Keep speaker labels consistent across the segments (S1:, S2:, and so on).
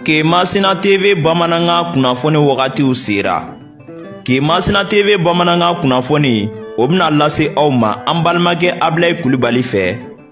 S1: ke masina tv bamanankan kunnafoni wagatiw sera ke masina tv bamanankan kunnafoni o bɛna lase aw ma an balimakɛ abilayi kulubali fɛ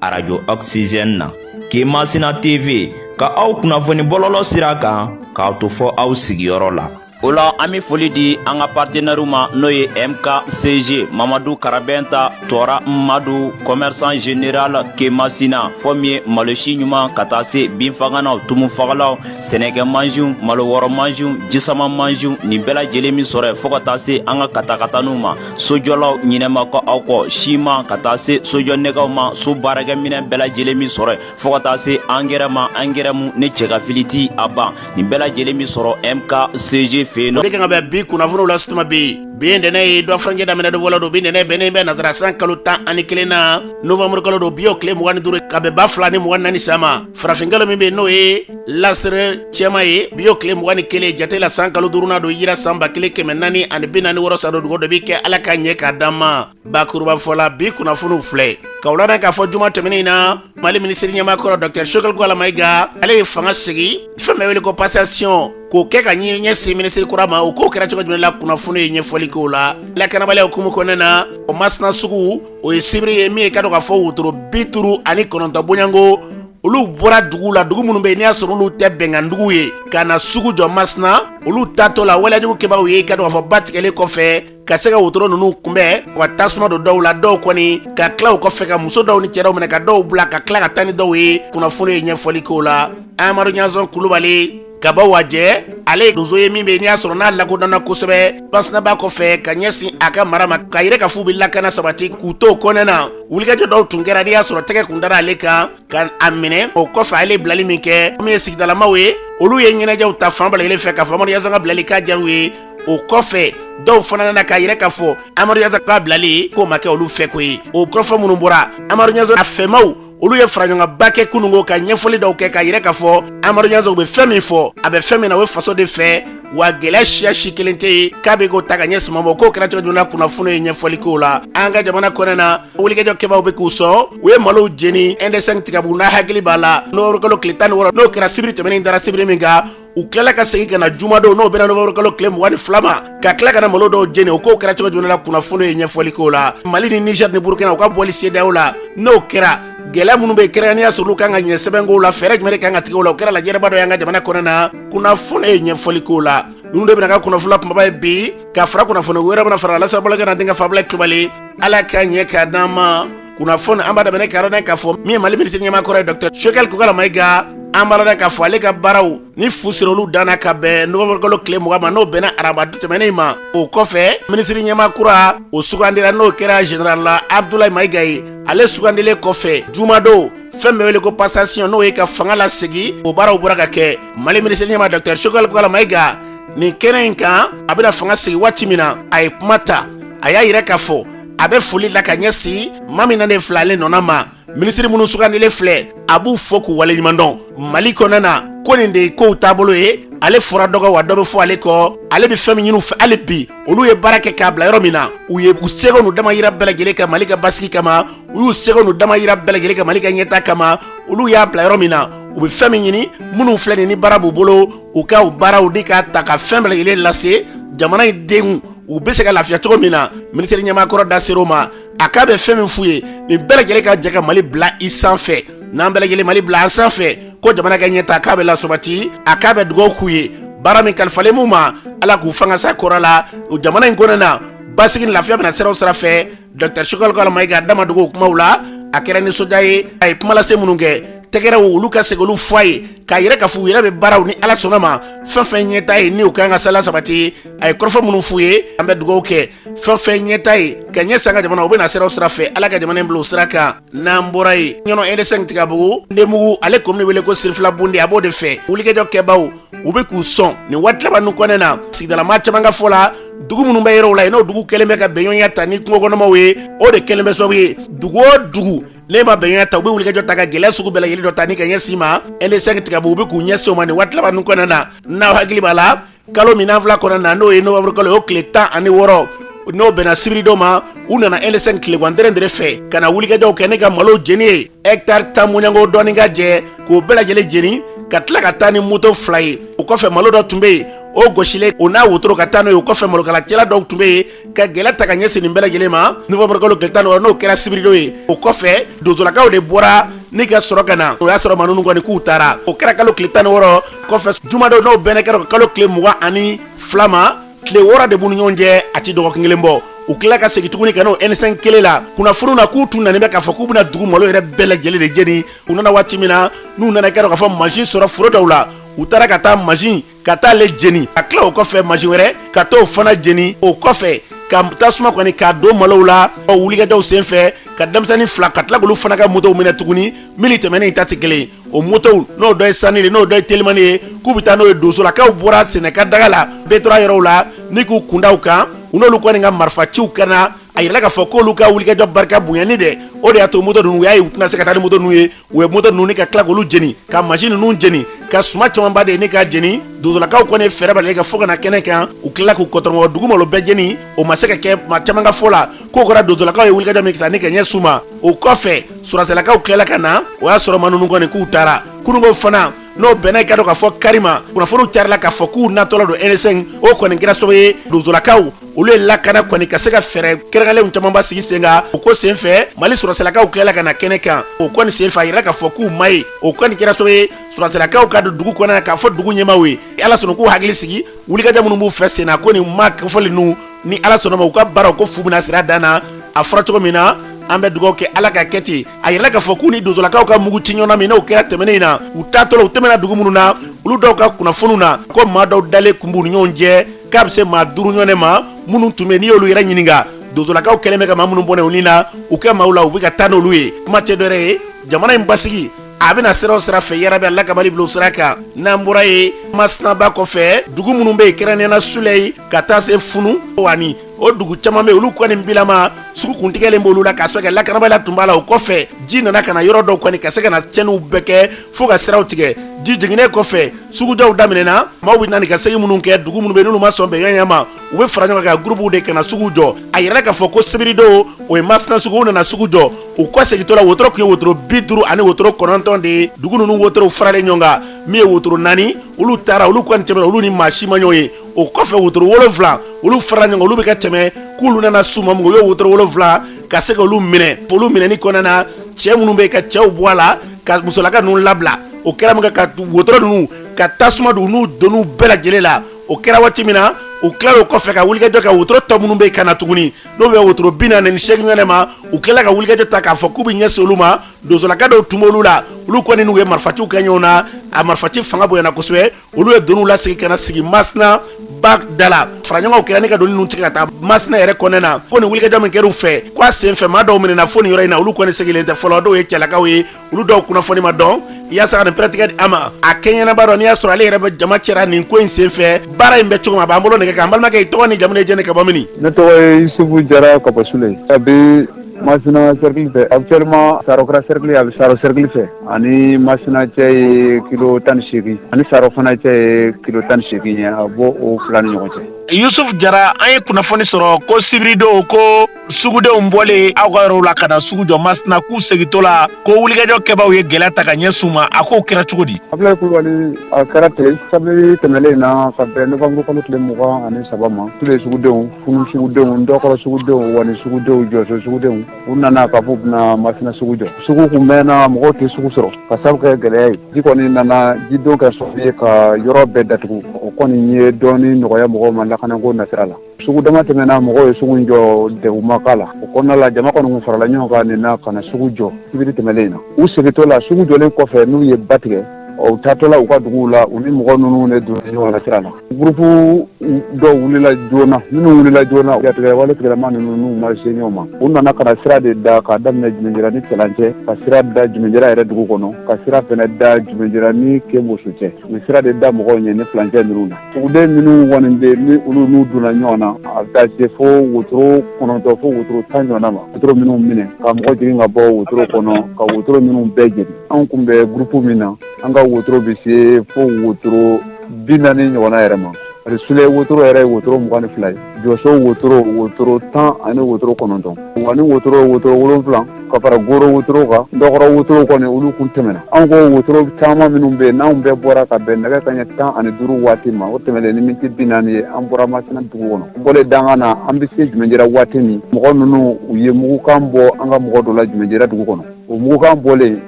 S1: arajo oxygène na ke masina tv ka aw kunnafoni bɔlɔlɔ sira kan k'a to fɔ aw sigiyɔrɔ la o la an be foli di an ka partenɛriw ma n'o ye mkcg mamadu karabɛnta tɔɔra madu kɔmɛrisan general kemasina fɔ min ye malosi ɲuman ka taa se binfaganaw tumufagalaw sɛnɛkɛ mansiw malo wɔrɔ mansiw jisama mansiw nin bɛɛ lajɛlen be sɔrɔ yen fɔɔ ka taa se an ka katakataniw ma sojɔlaw ɲinɛ ma kɛ aw kɔ siman ka taa se sojɔ nɛgɛw ma so baarakɛminɛ bɛɛ lajɛlen be sɔrɔ yen fɔɔ ka taa se angɛrɛ ma angɛrɛ mu ni cɛkafili ti a ban nin bɛɛ lajɛlen be sɔrɔ mkcg fɛ yen nɔ o de kan ka bɛn
S2: bi kunnafoniw lase tuma bi bi ye dɛnɛ ye dɔgɔ furancɛ daminɛ don fɔlɔ don bi dɛnɛ bɛnnen bɛ nasara san kalo tan ani kelen na novamburu kalo don bi y'o tile mugan ni duuru ka bɛn ba fila ni mugan ni naani san ma farafinkalo min bɛ yen n'o ye lasiri cɛma ye bi y'o tile mugan ni kelen jate la san kalo duurunan don hijira san ba kelen kɛmɛ naani ani bi naani ni wɔɔrɔ san don dugu dɔ b'i kɛ ala k'a ɲɛ k'a d'an ma bakurubafɔla bi kunnafoniw filɛ k'aw ladɔn k'a fɔ juma tɛmɛnin na mali minisiri ɲɛmaa kɔrɔ dɔktɛr sogɛli kokala mayiga ale ye fanga sigi fɛn bɛ wele ko pasasiyɔn k'o kɛ ka ɲɛ ɲɛsin minisiri kura ma o k'o kɛra cogo jumɛn la kunnafoni ye ɲɛfɔli k'o la lakanabaliya hukumu kɔnɔna na o masina sugu o ye sibiri ye min ye k'a dɔn k'a fɔ wotoro bi duuru ani kɔnɔntɔn bɔɲɔgɔnko olu bɔra dugu la dugu minnu bɛ yen n'i y'a sɔrɔ olu tɛ bɛnkandugu ye ka na sugu jɔ masina olu taatɔ la waleyajugu kɛbaaw ye k'a dɔn k'a fɔ ba tigɛlen kɔfɛ ka se ka wotoro ninnu kunbɛn ka tasuma don dɔw la dɔw kɔni ka tila o kɔfɛ ka muso dɔw ni cɛ dɔw minɛ ka dɔw bila ka tila ka taa ni dɔw ye kunnafoni ye ɲɛfɔli k'o la amadu ɲanzɔn kulubali ka bɔ wajɛ ale ye donso ye min bɛ n'i y'a sɔrɔ n'a lakodɔnna kosɛbɛ masina ba kɔfɛ ka ɲɛsin a ka mara ma k'a yira k'a f'u bɛ lakana sabati k'u to kɔnɔ na wulikajɔ dɔw tun kɛra n'i y'a sɔrɔ tɛgɛ tun dara ale kan ka a minɛ o kɔfɛ ale bilali min kɛ min ye sigidalamaw ye olu ye ɲɛnajɛw ta fan bɛɛ lajɛlen fɛ k'a fɔ amadu ɲanzɔn ka bilali k'a diyara u ye o kɔfɛ dɔw fana nana k'a yira k'a fɔ amadu ɲanzɔn ka bilali k'o ma kɛ olu fɛko ye o kɔfɛ minnu bɔra amadu ɲanzɔn a fɛmaaw olu ye faraɲɔgɔnba kɛ kunungo ka ɲɛfɔli dɔw kɛ k'a yira k'a fɔ amadu ɲanzɔn bɛ fɛn min fɔ a bɛ fɛn min na o ye faso de fɛ wa gɛlɛya siya si kelen tɛ yen k'a bɛ k'o ta ka ɲɛsin ma o k'o kɛra cogo jumɛn na kunnafoni ye ɲɛfɔli k'o la an ka jamana kɔnɔ na wulikajɔ kɛbaaw bɛ k'u sɔn u ye malow jeni nd sɛnki tigabugu n'aw hakili b'a la novamburu kalo tile tan ni wɔɔrɔ n'o kɛra sibiri tɛmɛnen dara sibiri min kan u tilala ka segin ka na jumadon n'o bɛnna novamburu kalo tile mugan ni fila ma ka tila ka na malo dɔw jeni o k'o kɛra cogo jumɛn la kunnafoni ye ɲɛfɔli k'o la mali ni niger ni burukina u ka bɔli sedeyawo la n'o kɛra gɛlɛya minnu bɛ kɛrɛnkɛrɛnnenya n'i y'a sɔrɔ olu kan ka ɲɛ sɛbɛnkow la fɛɛrɛ jumɛn de kan ka tigɛ o la o kɛra lajɛrɛba dɔ y'an ka jamana kɔnɔ na kunnafoni ye ɲɛfɔli k'o la ninnu de bɛna kɛ kunnafoni kunbaba ye bi ka fara kunnafoni wɛrɛ bɛna fara a la lase bɛna kɛ an denkɛ fɛ abilayi kulubali ala k'a ɲɛ k'a d'an ma kunnafoni an b'a daminɛ ka yɔrɔ k'a fɔ min ye mali minisiri ɲɛmaa kɔrɔ ye dɔkitɛri sokɛli kokala mayiga an b'a lɔn k'a fɔ ale ka baaraw ni fu sera olu danna ka bɛn nowanburukalo tile mugan ma n'o bɛnna arabadon tɛmɛnen ma o kɔfɛ minisiri ɲɛma kura o sugandira n'o kɛra general la abdulayi mayiga ye ale sugandilen kɔfɛ jumadon fɛn bɛ wele ko passation n'o ye ka fanga lasegi o baaraw bɔra ka kɛ mali minisiri ɲɛma dɔkitɛri sokɛli kokala mayiga nin kɛnɛ in kan a bɛna fanga segi waati min na a ye kuma ta a y'a yira k'a fɔ a bɛ foli la ka ɲɛsin ma min nalen filɛ ale nɔ na ma minisiri minnu sugandilen filɛ a b'u fo k'u waleɲumandɔn mali kɔnɔna na ko nin de ye kow taabolo ye ale fɔra dɔ kɔ wa dɔ bɛ fɔ ale kɔ ale bɛ fɛn min ɲini u fɛ hali bi olu ye baara kɛ k'a bila yɔrɔ min na u ye u seko n'u damayira bɛɛ lajɛlen ka mali ka basigi kama u y'u seko n'u damayira bɛɛ lajɛlen ka mali ka ɲɛta kama olu y'a bila yɔrɔ min na u bɛ fɛn min ɲini minnu filɛ nin ni baara b'u bolo u ka u baaraw ni k'a ta ka fɛn bɛɛ lajɛlen lase jamana in denw u bɛ se ka lafiya cogo min na minisiri ɲɛmakɔrɔ da ser'o ma a k'a bɛ fɛn min f'u ye nin bɛɛ lajɛlen ka jɛ ka mali bila i sanfɛ n'an bɛɛ lajɛlen mali bila an sanfɛ ko jamana ka ɲɛtaa k'a bɛ lasabati a k'a bɛ dugawu k'u ye baara min kalifalen b'u ma ala k'u fangasa kɔrɔ la o jamana in kɔnɔna na basigi ni lafiya bɛ na sira o sira fɛ Dɔkitɛri sokɛli kokala mayiga da ma dogo kumaw la a kɛra nisɔndiya ye a ye kumalase minnu kɛ tɛgɛrɛw olu ka segin olu fɔ a ye k'a yira k'a fɔ u yɛrɛ bɛ baaraw ni ala sɔnna ma fɛn fɛn ɲɛta ye n'o ka kan ka se ka lasabati a ye kɔrɔfɔ minnu f'u ye an bɛ dugawu kɛ fɛn fɛn ɲɛta ye ka ɲɛsin an ka jamana o bɛ na sira o sira fɛ ala ka jamana bila o sira kan n'an bɔra yen ɲɔnɔ edesɛn tigabugu ndebugu ale komini bɛ wele ko sirifilabundi a b'o de fɛ wulikajɔ kɛbaw u be k'u sɔn nin waati laban nu kɔnɔna na sigidalama caman ka fɔ la dugu minnu bɛ yɔrɔw la yen n'o dugu kɛlen bɛ ka bɛɲɔgɔnya ta ni kungokɔnɔmaw ye o de kɛlen bɛ sababu ye dugu o dugu n'i ma bɛɲɔgɔnya ta u bɛ wulikajɔ ta ka gɛlɛya sugu bɛɛ lajɛlen dɔ ta ni ka ɲɛsin i ma edesɛn tigabugu u be k'u ɲɛsin o ma nin waati laban nu kɔnɔna na n'aw hakili b'a la kalo min an filɛ kɔnɔna na n'o ye nowanburukalo o tile tan ani wɔɔrɔ n'o bɛnna sibiridon ma u nana edesɛn tilegan dɛrɛndɛrɛ fɛ ka na wulikajɔw kɛ n'o ye ka malo jeni ye hɛktari tan bɔɲɔgɔnko dɔɔni k'a jɛ k'o bɛɛ lajɛlen jeni ka tila ka taa ni moto fila ye o kɔfɛ malo dɔ tun bɛ yen o gosilen o n'a wotoro ka taa n'o ye o kɔfɛ malokalacɛla dɔw tun bɛ yen ka gɛlɛya ta ka ɲɛsin nin bɛɛ lajɛlen ma nowanburukalo tile tan ni wɔɔrɔ n'o kɛra sibiridon ye o kɔfɛ donsolakaw de bɔra ni ka sɔrɔ ka na o y'a sɔrɔ maa ninnu kɔni k'u taara o kɛra kalo tile tan ni wɔɔrɔ kɔfɛ jumadon n'o bɛnnen kɛra kalo tile mugan ani fila ma tile wɔɔrɔ de b'u ni ɲɔgɔn cɛ a ti dɔgɔkun kelen bɔ u tila ka segin tuguni ka n'o ɛnisɛn kelen la kunnafoniw na k'u tun nanen bɛ k'a fɔ k'u bɛna dugu malo yɛrɛ bɛɛ lajɛlen de jeni u nana waati min na n'u nana kɛra k'a fɔ mansin sɔrɔ foro dɔw la u taara ka taa mansin ka taa ale jeni ka tila o kɔfɛ mansin wɛrɛ ka t'o fana jeni o kɔfɛ ka tasuma kɔni k'a don malow la o wulikajɔw sen fɛ ka denmisɛnnin fila ka tila k'olu fana ka motow minɛ tuguni minnu tɛmɛnen ta tɛ kelen o motow n'o dɔ ye sanili n'o dɔ ye telimani ye k'u bɛ taa n'o ye donsolakaw bɔra sɛnɛka daga la bɛɛ tora yɔrɔw la ni k'u kun da u kan u n'olu kɔni ka marifaciw kɛra a yirala k'a fɔ k'olu ka wulikajɔ barika bonyani dɛ o de y'a to moto ninnu u y'a ye u tɛna se ka taa ni moto ninnu ye u ye moto ninnu ni ka tila k'olu jeni ka mansin ninnu jeni ka suma camanba de ye ni ka jeni donsolakaw kɔni fɛɛrɛ bali ka fɔ ka na kɛnɛ kan u tilala k'u kɔtɔrɔmɔgɔ dugu malo bɛɛ jeni o ma se ka kɛ maa caman ka fɔ la k'o kɛra donsolakaw ye wulikajɔ min kɛ ni ka ɲɛs'u ma o kɔfɛ sɔrɔdasilakaw tilala ka na o y'a sɔrɔ maa ninnu kɔni k'u taara kununko fana n'o bɛnna i k'a dɔn k'a fɔ kari ma kunnafoniw carila k'a fɔ k'u natɔla don nsɛn o kɔni kɛra sababu ye donsolakaw olu ye lakana kɔni ka se ka fɛɛrɛ kɛrɛnkɛrɛnlenw camanba sigi sen kan o ko sen fɛ mali sɔrɔdasilakaw tilala ka na kɛnɛ kan o kɔni sen fɛ a yirala k'a fɔ k'u ma ye o kɔni kɛra sababu ye sɔrɔdasilakaw ka don dugu kɔnɔna k'a fɔ dugu ɲɛmaaw ye ala sɔnna k'u hakili sigi wulikajɔ minnu b'u fɛ senna ko nin maa kofɔlen ninnu ni ala sɔnna a ma u ka baaraw ko fu bɛna sir'a dan na a fɔra cogo min na an bɛ dugawu kɛ ala ka kɛ ten a yirala k'a fɔ k'u ni donsolakaw ka muguci ɲɔgɔn na min n'o kɛra tɛmɛnen in na u taatɔ la u tɛmɛna dugu minnu na olu dɔw ka kunnafoniw na ko maa dɔw dalen kun b'u ni ɲɔgɔn cɛ k'a bɛ se maa duuru ɲɔgɔn ma minnu tun bɛ n'i y'olu yɛrɛ ɲininka donsolakaw kɛlen bɛ ka maa minnu bɔnɛ u ni na u ka maaw la u bɛ ka taa n'olu ye kuma tɛ dɔwɛrɛ ye jamana in basigi a bɛ na sira o sira fɛ yarabi ala ka mali bila o sira kan n'an bɔra yen masina ba kɔfɛ dugu minnu bɛ yen kɛrɛnkɛrɛnnenya na suleyi ka taa se funu ani o dugu caman bɛ olu kɔni bilama sugu kuntigɛlen b'olu la k'a sababu kɛ lakanabaliya tun b'a la o kɔfɛ ji nana ka na yɔrɔ dɔw kɔni ka se ka na cɛnniw bɛɛ kɛ fo ka siraw tigɛ ji jiginnen kɔfɛ sugujɔw daminɛna maaw bɛ na ka segin min kɛ dugu minnu bɛ n'olu ma sɔn bɛnkan ma u bɛ fara ɲɔgɔn kan gurupuw de ka na sugu jɔ a yirala k'a fɔ ko sibiridon o ye masina sugu u nana sugu jɔ u kɔ segintɔ la wotoro tun ye wotoro bi duuru ani wotoro kɔnɔntɔn de ye dugu ninnu wotorow faralen ɲɔgɔn kan min ye wotoro naani olu taara olu kɔni tɛmɛna olu ni maa si ma ɲɔgɔn ye o kɔfɛ wotoro wolonwula olu fara ɲɔgɔn kan olu bɛ ka tɛmɛ k'olu nana s'u ma min u ye wotoro wolonwula ka se ka olu minɛ olu minɛni kɔnɔna na cɛ minnu bɛ yen ka cɛw bɔ a la ka musolaka ninnu labila o kɛra min kɛ ka wotoro ninnu ka tasuma don n'u doniw bɛɛ lajɛlen la o kɛra waati min na u tilala o kɔfɛ ka wulikajɔ kɛ wotoro tɔ minnu bɛ ka na tuguni n'o bɛ wotoro bi naani ni seegin ɲɔgɔn ma u tilala ka wulikajɔ ta k'a fɔ k'u bɛ ɲɛsin olu ma donsolaka dɔw tun b'olu la olu kɔni n'u ye marifaciw kɛ ɲɔgɔn na a marifaci fanga bonyana kosɛbɛ olu ye doniw lasegin ka na sigi masina ba da la faraɲɔgɔnw kɛra ni ka doni ninnu tigɛ ka taa masina yɛrɛ kɔnɔna na ko nin wulikajɔ min kɛr'u fɛ ko a sen fɛ maa dɔw minɛna fo nin yɔrɔ in na olu kɔni segilen tɛ fɔlɔ dɔw ye cɛlakaw ye olu dɔw kunnafoni ma dɔn yaasa ka nin pɛrɛtigɛ di aw ma a kɛɲɛnaba dɔ n'i y'a sɔrɔ ale yɛrɛ bɛ jama cɛra nin ko in sen fɛ baara in bɛ cogo min a b'an bolo nɛgɛ kan n balimakɛ i tɔgɔ ni jamu ye jɛni ka bɔ mini ne tɔgɔ ye yusufu
S3: jara ka bɔ suleyi a bɛ masina cercle fɛ actuellement saro kɛra cercle a bɛ saro cercle fɛ ani masina cɛ ye kilo tan ni segin ani saro fana cɛ ye kilo tan ni segin ye a bɔ o fila ni ɲɔgɔn cɛ yusufu jara
S2: an ye kunnafoni sɔrɔ ko sibiridon ko sugudenw bɔlen aw ka yɔrɔw la ka na sugu jɔ masina k'u segintɔ la ko wulikajɔ kɛbaaw ye gɛlɛya ta ka ɲɛsin u ma a ko kɛra cogo di abulayi
S3: kulubali a kɛra ten sibiri tɛmɛnlen in na ka bɛn nowanburu kalo tile mugan ani saba ma suleye sugudenw funu sugudenw ndɔkɔrɔ sugudenw wani sugudenw jɔso sugudenw u nana k'a fɔ u bɛna masina sugu jɔ sugu kun mɛnna mɔgɔw tɛ sugu sɔrɔ k'a sabu kɛ gɛlɛya ye ji kɔni nana jidon kɛ sɔrɔ ye ka yɔrɔ bɛɛ datugu o kɔni ye dɔɔni nɔgɔya mɔgɔw ma lakanako nasira la sugu dama tɛmɛna mɔgɔw ye sugu jɔ degun ma k'a la o kɔnɔna la jama kɔni kun farala ɲɔgɔn kan nin na ka na sugu jɔ sibiri tɛmɛlen in na u segintɔ la sugu jɔlen kɔfɛ n'u ye ba tigɛ u taatɔ la u ka duguw la u ni mɔgɔ ninnu de donna ɲɔgɔn na sira la gurupu dɔw wulila joona minnu wulila joona jatigɛwale tigilamaa ninnu n'u ma se ɲɔgɔn ma u nana ka na sira de da k'a daminɛ jumɛnjira ni cɛlan cɛ ka sira da jumɛnjira yɛrɛ dugu kɔnɔ ka sira fɛnɛ da jumɛnjira ni keboso cɛ u sira de da mɔgɔw ɲɛ nin fulancɛ ninnu na Uden minnu kɔni bɛ ni olu n'u donna ɲɔgɔn na a bɛ taa se fo wotoro kɔnɔntɔn fo wotoro tan ɲɔgɔnna ma wotoro minnu minɛ ka mɔgɔ jigin ka bɔ wotoro kɔnɔ ka wotoro minnu bɛɛ jeni anw kun bɛ gurupu min na an ka wotoro bɛ se fo wotoro bi naani ɲɔgɔnna yɛrɛ ma a sule wotoro yɛrɛ ye wotoro mugan ni fila ye jɔso wotoro wotoro tan ani wotoro kɔnɔntɔn wani wotoro wotoro wolonfila ka fara goro wotoro kan ndɔkɔrɔ wotoro kɔni olu kun tɛmɛna anw ko wotoro caman minnu bɛ yen n'anw bɛɛ bɔra ka bɛn nɛgɛ kaɲɛ tan ani duuru waati ma o tɛmɛlen ni miniti bi naani ye an bɔra masina dugu kɔnɔ an bɔlen dangan na an bɛ se jumɛnjira waati min mɔgɔ ninnu u ye mugukan bɔ an ka mɔgɔ dɔ la jumɛnjira dugu kɔnɔ o mugukan bɔlen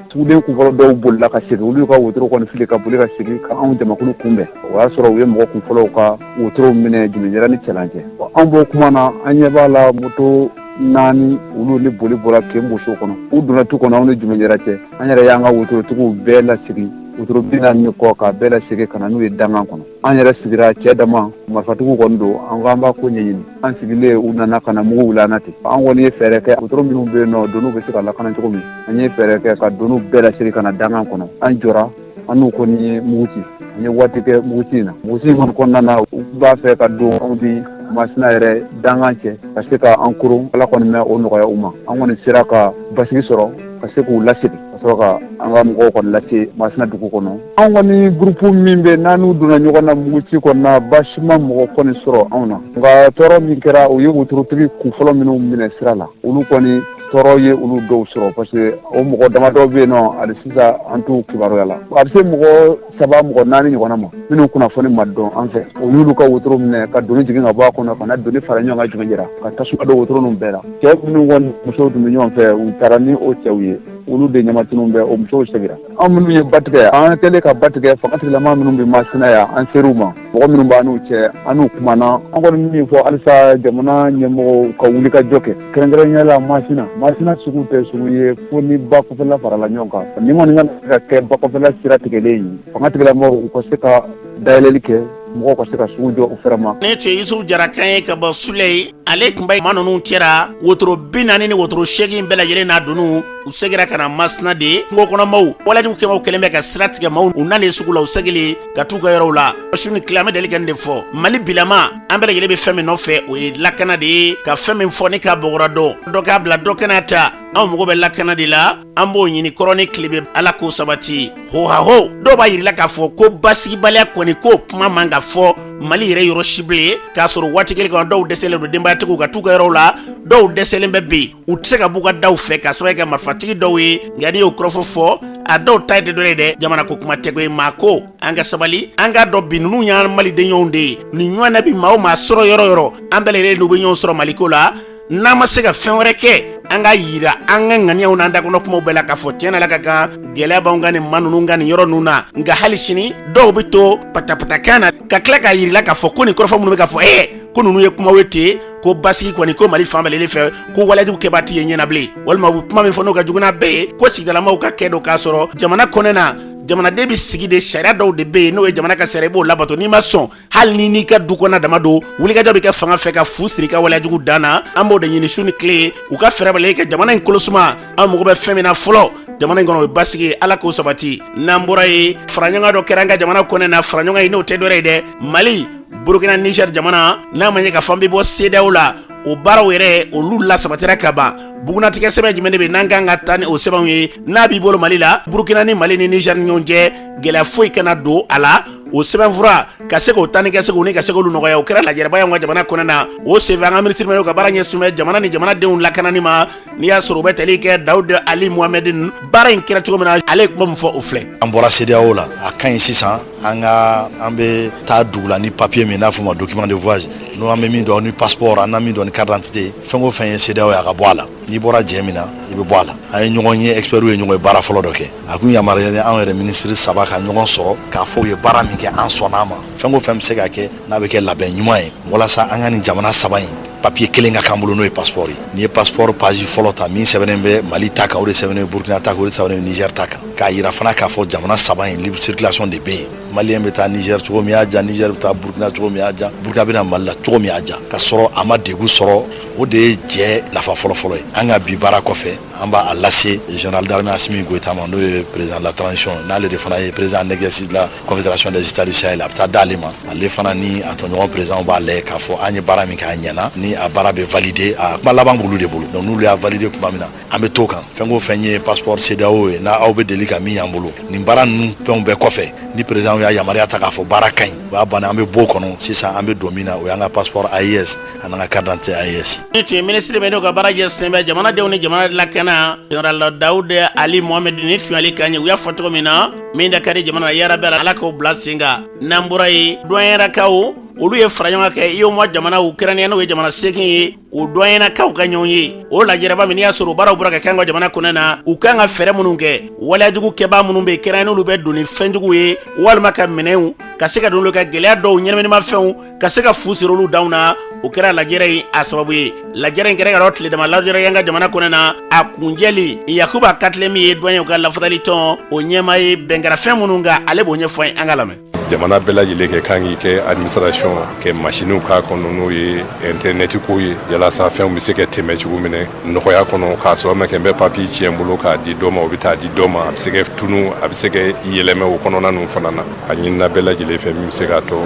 S3: suguden kunfɔlɔ dɔw bolila ka segin olu y'u ka wotoro kɔni fili ka boli ka segin ka anw jamakulu kunbɛn o y'a sɔrɔ u ye mɔgɔ kunfɔlɔw ka wotorow minɛ jumɛnjira ni cɛlan cɛ an b'o kuma na an ɲɛ b'a la moto naani olu ni boli bɔra keboso kɔnɔ u donna tu kɔnɔ anw ni jumɛnjira cɛ an yɛrɛ y'an ka wotorotigiw bɛɛ lasigi wotoro bi naani ni kɔ k'a bɛɛ lasegin ka na n'u ye dangan kɔnɔ an yɛrɛ sigira cɛ dama marifatigiw kɔni don an ko an b'a ko ɲɛɲini an sigilen u nana ka na mugu wuli an na ten an kɔni ye fɛɛrɛ kɛ wotoro minnu bɛ yen n'o doniw bɛ se ka lakana cogo min an ye fɛɛrɛ kɛ ka doniw bɛɛ lasegin ka na dangan kɔnɔ an jɔra an n'u kɔni ye mugu ci an ye waati kɛ muguci in na muguci in kɔni kɔnɔna na u b'a fɛ ka don anw ni masina yɛrɛ dangan cɛ ka se ka an koron ala kɔni ma o nɔgɔya u ma an kɔni sera ka basigi sɔrɔ ka se k'u lasegin ka sɔrɔ ka an ka mɔgɔw kɔni lase masina dugu kɔnɔ an kɔni gurupu min bɛ n'an n'u donna ɲɔgɔn na muguci kɔnɔna baasi ma mɔgɔ kɔni sɔrɔ anw na nka tɔɔrɔ min kɛra u ye wotorotigi kunfɔlɔ minnu minɛ sira la olu kɔni tɔɔrɔ ye olu dɔw sɔrɔ parce que o mɔgɔ dama dɔw bɛ yen nɔ hali sisan an t'u kibaruya la a bɛ se mɔgɔ saba mɔgɔ naani ɲɔgɔnna ma minnu kunnafoni ma dɔn an fɛ o y'olu ka wotoro minɛ ka doni jigin ka bɔ a kɔnɔ ka na doni fara ɲɔgɔn kan jigin jira ka tasuma don wotoro ninnu bɛɛ la cɛ minnu kɔni musow tun bɛ ɲɔgɔn fɛ u taara ni o cɛw ye olu de ɲamatununnen bɛ o musow segira an minnu ye ba tigɛ an kɛlen ka ba tigɛ fangatigilama minnu bɛ masina yan an ser'u ma mɔgɔ minnu b'an n'u cɛ an n'u kumana an kɔni bɛ min fɔ halisa jamana ɲɛmɔgɔw ka wulikajɔ kɛ kɛrɛnkɛrɛnya la masina masina sugu tɛ sugu ye fo ni ba kɔfɛla farala ɲɔgɔn kan nin kɔni kana se ka kɛ ba kɔfɛla sira tigɛlen ye fangatigilamɔgɔw u ka se ka dayɛlɛli kɛ mɔgɔw ka se ka sugu jɔ u fɛrɛ ma ne tun ye yusufu jara
S2: kan ye ka bɔ suleyi ale tun bɛ maa ninnu cɛra wotoro bi naani ni wotoro seegin bɛɛ lajɛlen n'a donu u segira ka na masina de kungokɔnɔmaaw walejugu kɛbaaw kɛlen bɛ ka sira tigɛ maaw u nalen sugu la u segilen ka t'u ka yɔrɔw la su ni tile an bɛ deli ka nin de fɔ mali bilama an bɛɛ lajɛlen bɛ fɛn min nɔfɛ o ye lakana de ye ka fɛn min fɔ ni k'a bɔgɔra dɔn dɔ k'a bila dɔ ka n'a ta anw mago bɛ lakana de la an b'o ɲini kɔrɔn ni tilebin ala k'o sabati hohaho dɔw b'a yirila k'a fɔ ko basigibaliya kɔni k'o kuma man ka fɔ mali yɛrɛ yɔrɔ si bilen k'a sɔrɔ waati kelen kɔnɔ dɔw dɛsɛlen don denbayatigiw ka t'u ka yɔrɔw la dɔw dɛsɛlen bɛ bi u tɛ se ka b'u ka daw fɛ k'a sababu kɛ marifatigi dɔw ye nka n'i y'o kɔrɔfɔ fɔ a dɔw ta ye de dɔ ye dɛ jamana ko kuma tɛko ye maa ko an ka sabali an k'a dɔn bi ninnu y'an malidenɲɔgɔnw de ye nin ɲɔgɔnna bɛ maa o maa sɔrɔ yɔrɔ o yɔrɔ an bɛɛ lajɛlen n'u bɛ ɲɔgɔn sɔrɔ maliko la n'an ma se ka fɛn wɛrɛ kɛ an k'a yira an ka ŋaniyaw n'an dakɔnɔ kumaw bɛɛ la k'a fɔ tiɲɛ na ala ka kan gɛlɛya b'anw ka nin maa ninnu kan nin yɔrɔ ninnu na nka hali sini dɔw bɛ to patapatakan na ka tila k'a yirila k'a fɔ ko nin kɔrɔfɔ minnu bɛ ka fɔ ee ko ninnu ye kumaw ye ten ko basigi kɔni ko mali fan bɛɛ lajɛlen fɛ ko walejugu kɛbaa tɛ ye ɲɛ na bilen walima u bɛ kuma min fɔ n'o ka jugu n'a bɛɛ ye ko sigidalamaaw ka kɛlɛ don k'a sɔrɔ jamana kɔnɔ na jamanaden bɛ sigi de sariya dɔw de bɛ yen n'o ye jamana ka sariya i b'o labato n'i ma sɔn hali ni n'i ka du kɔnɔ dama don wulikajɔ bɛ kɛ fanga fɛ ka fu siri ka waleyajugu dan na an b'o de ɲini su ni tile u ka fɛɛrɛ bɛɛ lajɛ ka jamana in kolosuma an mago bɛ fɛn min na fɔlɔ jamana in kɔnɔ o ye basigi ye ala k'o sabati n'an bɔra yen faraɲɔgɔn dɔ kɛra an ka jamana kɔnɔ na faraɲɔgɔn ye n'o tɛ dɔ ye dɛ mali burukina niger jamana n'a ma ɲɛ k'a fɔ an bɛ bɔ sedeyawo la o baaraw yɛrɛ olu lasabatira ka ban bugunnatigɛ sɛbɛn jumɛn de bɛ n'an ka kan ka taa ni o sɛbɛnw ye n'a b'i bolo mali la burukina ni mali ni niger ni ɲɔgɔn cɛ gɛlɛya foyi kana don a la o sɛbɛnfura ka se k'o ta ni ka se k'o ni ka se k'olu nɔgɔya o kɛra lajɛrɛba y'anw ka jamana kɔnɔ na o senfɛ an ka minisiri min n'o ka baara ɲɛsinnen bɛ jamana ni jamanadenw lakanani ma n'i y'a sɔrɔ u bɛ tali kɛ dawuda ali muhamɛdin baara in kɛra cogo min na ale ye kuma min fɔ o filɛ an bɔra sedeyawo
S4: la a ka ɲi sisan an ka an bɛ taa dugu la ni papiye min n'a fɔ ma document de voyage n'o an bɛ min dɔn ni passeport an na min dɔn ni carte d'identité fɛn o fɛn ye sedeyawo ye a ka bɔ a la n'i bɔra jɛ min na i bɛ bɔ a la an ye ɲɔgɔn ye expertw ye ɲɔgɔn ye baara fɔlɔ dɔ kɛ a kun yamaruyalen anw yɛrɛ minisiri saba ka ɲɔgɔn sɔrɔ k'a fɔ u ye baara min kɛ an sɔnna a ma fɛn o fɛn bɛ se ka kɛ n'a bɛ kɛ labɛn ɲuman ye walasa an ka nin jamana saba in papiye kelen ka k'an bolo n'o ye passeport ye n'i ye passeport page fɔlɔ ta min sɛbɛnnen bɛ mali ta kan o de sɛbɛnnen bɛ burkina ta kan o de sɛbɛnnen bɛ niger ta kan k'a yira fana k'a fɔ jamana saba in libre circulation de bɛ yen maliyɛn bɛ taa niger cogo min y'a diya niger bɛ taa burkina cogo min y'a diya burkina bɛ na mali la cogo min y'a diya k'a sɔrɔ a ma degun sɔrɔ o de ye jɛ nafa fɔlɔfɔlɔ ye an ka bi baara kɔfɛ an b'a lase général d'armée asimi goyita ma n'o ye président de la transition n'ale de fana ye président en exercice de la Confédération des États du Sahel a bɛ taa d'ale ma ale fana ni a tɔɲɔgɔn présidents b'a lajɛ k'a fɔ an ye baara min kɛ a ɲɛna ni a baara bɛ valider a kuma laban b'olu de bolo donc n'olu y'a valider tuma min na an bɛ t'o kan fɛn o fɛn ye passeport CEDEAO ye n'aw bɛ deli ka min y'an bolo nin baara ninnu fɛnw bɛɛ kɔfɛ ni président y'a yamaruya ta k'a fɔ baara ka ɲi o y'a bannen an bɛ b'o kɔnɔ sisan an bɛ don min na o y'an ka passeport AES an'an ka carte d'identité AES. Nin tun ye minisiri min
S2: n'o ka baara ɲɛsin bɛ jamanadenw ni jamana lakana Général Dawude Ali Mohamɛdi nin tun y'ale kan ye u y'a fɔ cogo min na min da ka di jamana na yarabi ala k'o bila sen kan n'an bɔra yen duwanyɛlakaw olu ye faraɲɔgɔnkan kɛ UEMOA jamanaw kɛrɛnya n'o ye jamana seegin ye o duwanyɛlakaw ka ɲɔgɔn ye o lajɛrɛba min y'a sɔrɔ u baaraw bɔra ka kɛ an ka jamana kɔnɔ na u kan ka fɛɛrɛ minnu kɛ waleyajugu kɛbaa minnu bɛ kɛrɛn n'olu bɛ don ni fɛnjugu ye walima ka minɛnw ka se ka don olu ka gɛlɛya dɔw ɲɛnaminima fɛnw ka se ka fu sir'olu danw na o kɛra lajɛrɛ in a sababu ye lajɛrɛ in kɛra ka dɔ tile dama lajɛrɛ y'an ka jamana kɔnɔ na a kuncɛli yakuba katile min ye duwanyɛw ka lafasali tɔn o ɲɛmaa ye bɛn kɛra fɛn minnu kan ale b'o ɲɛfɔ aw ye an k'a lamɛn jamana bɛɛ lajɛlen
S5: ka kan k'i ka administration kɛ masiniw k'a kɔnɔ n'o ye intɛrɛnɛti ko ye yalasa fɛnw bɛ se ka tɛmɛ cogo min na nɔgɔya kɔnɔ k'a sɔrɔ a ma kɛ n bɛ papiye tiɲɛ bolo k'a di dɔ ma o bɛ taa di dɔ ma a bɛ se ka tunu a bɛ se ka yɛlɛmɛ o kɔnɔna ninnu fana na a ɲinina bɛɛ lajɛlen fɛ min bɛ se k'a to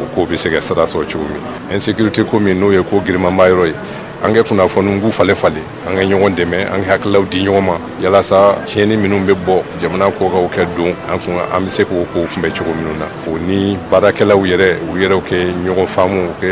S5: o ko bɛ se ka sira sɔrɔ cogo min insécurité ko min n'o ye ko girinmanba yɔrɔ ye an ka kunnafoniw k'u falen falen an ka ɲɔgɔn dɛmɛ an ka hakililaw di ɲɔgɔn ma yalasa tiɲɛni minnu bɛ bɔ jamana kɔkan ka don an kun an bɛ se k'o kow kunbɛn cogo minnu na o ni baarakɛlaw yɛrɛ u yɛrɛw ka ɲɔgɔn faamu u ka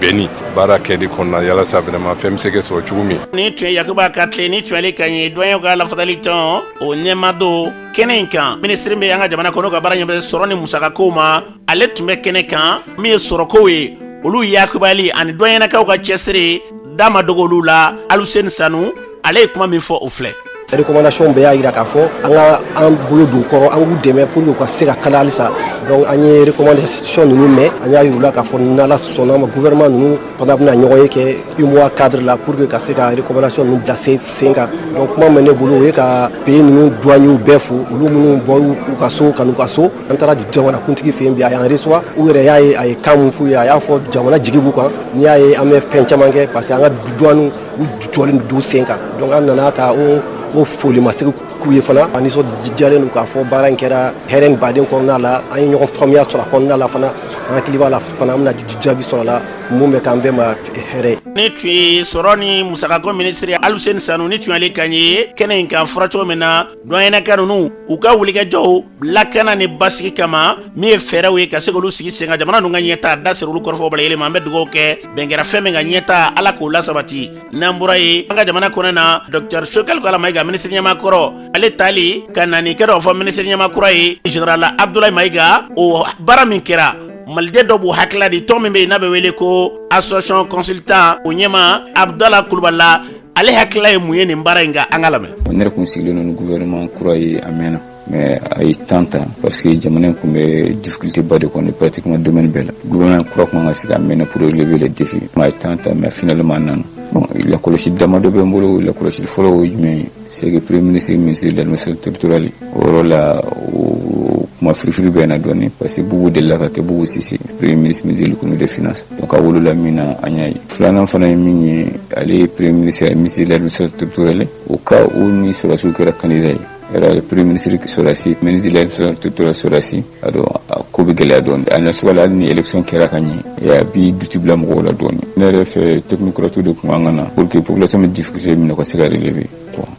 S5: bɛn nin baara kɛli kɔnɔna yalasa vraiment fɛn bɛ se ka sɔrɔ cogo min nin tun ye yakuba
S2: katile nin tun y'ale kan ye duwanyɛw ka lafasali tɔn o ɲɛmaa don kɛnɛ in kan minisiri bɛ an ka jamana kɔnɔ ka baara ɲɛ bɛ sɔrɔ ni musakakow ma ale tun bɛ kɛnɛ kan min ye sɔrɔkow ye olu yakubali ani duwanyɛlakaw ka cɛsiri da ma dogo olu la aluseni sanu ale ye kuma min fɔ o filɛ recommandation bɛɛ y'a
S6: yira k'a fɔ an ka an bolo don u kɔrɔ an k'u dɛmɛ pour que u ka se ka k'a la halisa donc an ye recommandation ninnu mɛn an y'a yir'u la k'a fɔ n'ala sɔnn'a ma gouvernement ninnu fana bɛna ɲɔgɔn ye kɛ UMOA cadre la pour que ka se ka recommandation ninnu bila sen sen kan donc kuma min ne bolo o ye ka pays ninnu douaniers bɛɛ fo olu minnu bɔr'u ka so ka n'u ka so an taara jamana kuntigi fɛ bi a y'an reçoit u yɛrɛ y'a ye a ye kan mun f'u ye a y'a fɔ jamana jigi b'u kan n'i y'a ye an bɛ fɛn caman kɛ parce que an ka douane u jɔlen d'u sen kan donc an nana ka o foli masegin k'u ye fana an nisɔndiyalen don k'a fɔ baara in kɛra hɛrɛ ni baden kɔnɔna la an ye ɲɔgɔn faamuya sɔrɔ a kɔnɔna la fana an hakili b'a la fana an bɛna jaabi sɔrɔ a la mun bɛ k'an bɛɛ ma hɛrɛ nin tun ye sɔrɔ ni musakako minisiri ye Aluseni Sanu nin tun y'ale kan ye kɛnɛ in kan fɔra cogo min na duwaninaka ninnu u ka wulikajɔw lakana ni basigi kama min ye fɛɛrɛw ye ka se k'olu sigi sen kan jamana ninnu ka ɲɛtaa dasiri olu kɔrɔfɔw bala yɛlɛma an bɛ dugawu kɛ bɛn kɛra fɛn min kan ɲɛtaa ala k'o lasabati n'an bɔra yen an ka jamana kɔnɔna dɔktɛr Choguel Kokalla Mayiga minisiri ɲɛmaa kɔrɔ ale taali ka na nin kɛ dɔ fɔ minisiri ɲɛmaa kura ye général abdulayi mayiga o baara min kɛra maliden dɔw b'u hakilila di tɔn min bɛ yen n'a bɛ wele ko association consultant o ɲɛmaa abdala kulubali la ale hakilila ye mun ye nin baara in kan an k'a lamɛn ne yɛrɛ kun sigilen don
S7: ni gouvernement kura ye a mɛnna mais a ye temps ta parce que jamana in kun bɛ difficulté ba de kɔnɔ pratiquement domaine bɛɛ la gouvernement kura kun kan ka sigi a mɛnna pour relever les défis a ye temps ta mais finalement a nana bon lakɔlɔsili dama dɔ bɛ n bolo lakɔlɔsili fɔlɔ o ye jumɛn ye c'est que premier ministre ministre de l'administration territoriale o yɔrɔ la o kuma firifiri bɛ na dɔɔnin parce que Bubu delila ka kɛ Bubu Sise premier ministre ministre de l'économie des finances donc a wolola min na an y'a ye filanan fana ye min ye ale ye premier ministre ye ministre de l'administration territoriale o ka o ni sɔrɔdasiw kɛra candidat ye yɛrɛ premier ministre sɔrɔdasi ministre de l'administration territoriale sɔrɔdasi a dɔn a ko bɛ gɛlɛya dɔɔni a na sɔgɔla hali ni élection kɛra ka ɲɛ a bɛ doute bila mɔgɔw la dɔɔni ne yɛrɛ fɛ technocrate de kun kan ka na pour que population bɛ difficulté min na u ka se ka relever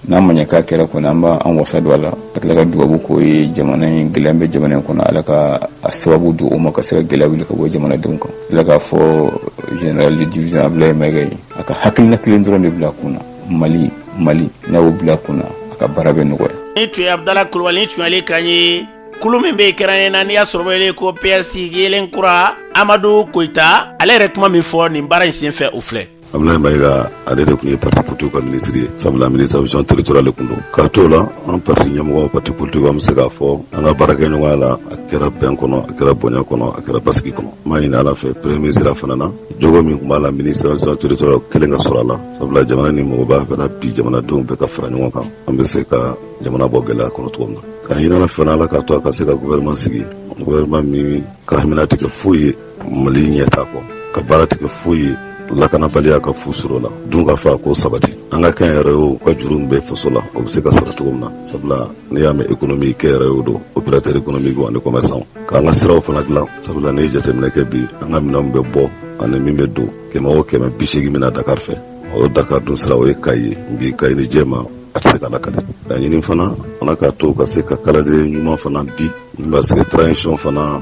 S7: n'a ma ɲɛ k'a kɛra kɔni an b'an wasa don a la ka tila ka dugabu k'o ye jamana in gɛlɛya bɛ jamana in kɔnɔ ala ka a sababu don o ma ka se ka gɛlɛya wuli ka bɔ jamanadenw kan tila k'a fɔ général de division Abdoulaye Mayiga ye a ka hakilina kelen dɔrɔn de bila a kun mali mali n'a y'o bila a kun a ka baara bɛ nɔgɔya nin tun ye abudala kulubali
S2: nin tun y'ale kan ye kulu min bɛ kɛrɛnnen na n'i y'a sɔrɔ o bɛ wele ko PS yelen kura amadu koyita ale yɛrɛ kuma min fɔ nin baara in senfɛ o filɛ Abdoulaye
S8: Mayiga ale de kun ye parti politique ka ministre ye sabula administration territoriale de kun don k'a t'o la an parti ɲɛmɔgɔ parti politique an bɛ se k'a fɔ an ka baarakɛɲɔgɔnya la a kɛra bɛn kɔnɔ a kɛra bonya kɔnɔ a kɛra basigi kɔnɔ n b'a ɲini ala fɛ premier ministre fana na jogo min kun b'a la administration territoriale kelen ka sɔrɔ a la sabula jamana ni mɔgɔ b'a fɛ bi jamanadenw bɛɛ ka fara ɲɔgɔn kan an bɛ se ka jamana bɔ gɛlɛya kɔnɔ cogo min na k'a ɲini ala fana ala k'a to a ka se ka gouvernement sigi gouvernement min ka hamina tɛ kɛ foyi ye mali ɲɛtaa kɔ ka baara tɛ kɛ foyi ye lakanabaliya ka fu siri o la dunkafako sabati an ka kɛnyɛrɛyew ka juru min bɛ faso la o bɛ se ka sara cogo min na sabula n'i y'a mɛn ekonomi kɛnyɛrɛyew don opérateur économique ani commerçant k'an ka siraw fana dilan sabula n'i ye jateminɛ kɛ bi an ka minɛn min bɛ bɔ ani min bɛ don kɛmɛ o kɛmɛ bi seegin bɛ na dakar fɛ o dakar dun sira o ye kayi ye bi kayi ni jɛma A tɛ se ka lakali laɲini fana Ala k'a to u ka se ka calendrier ɲuman fana di min b'a se transition fana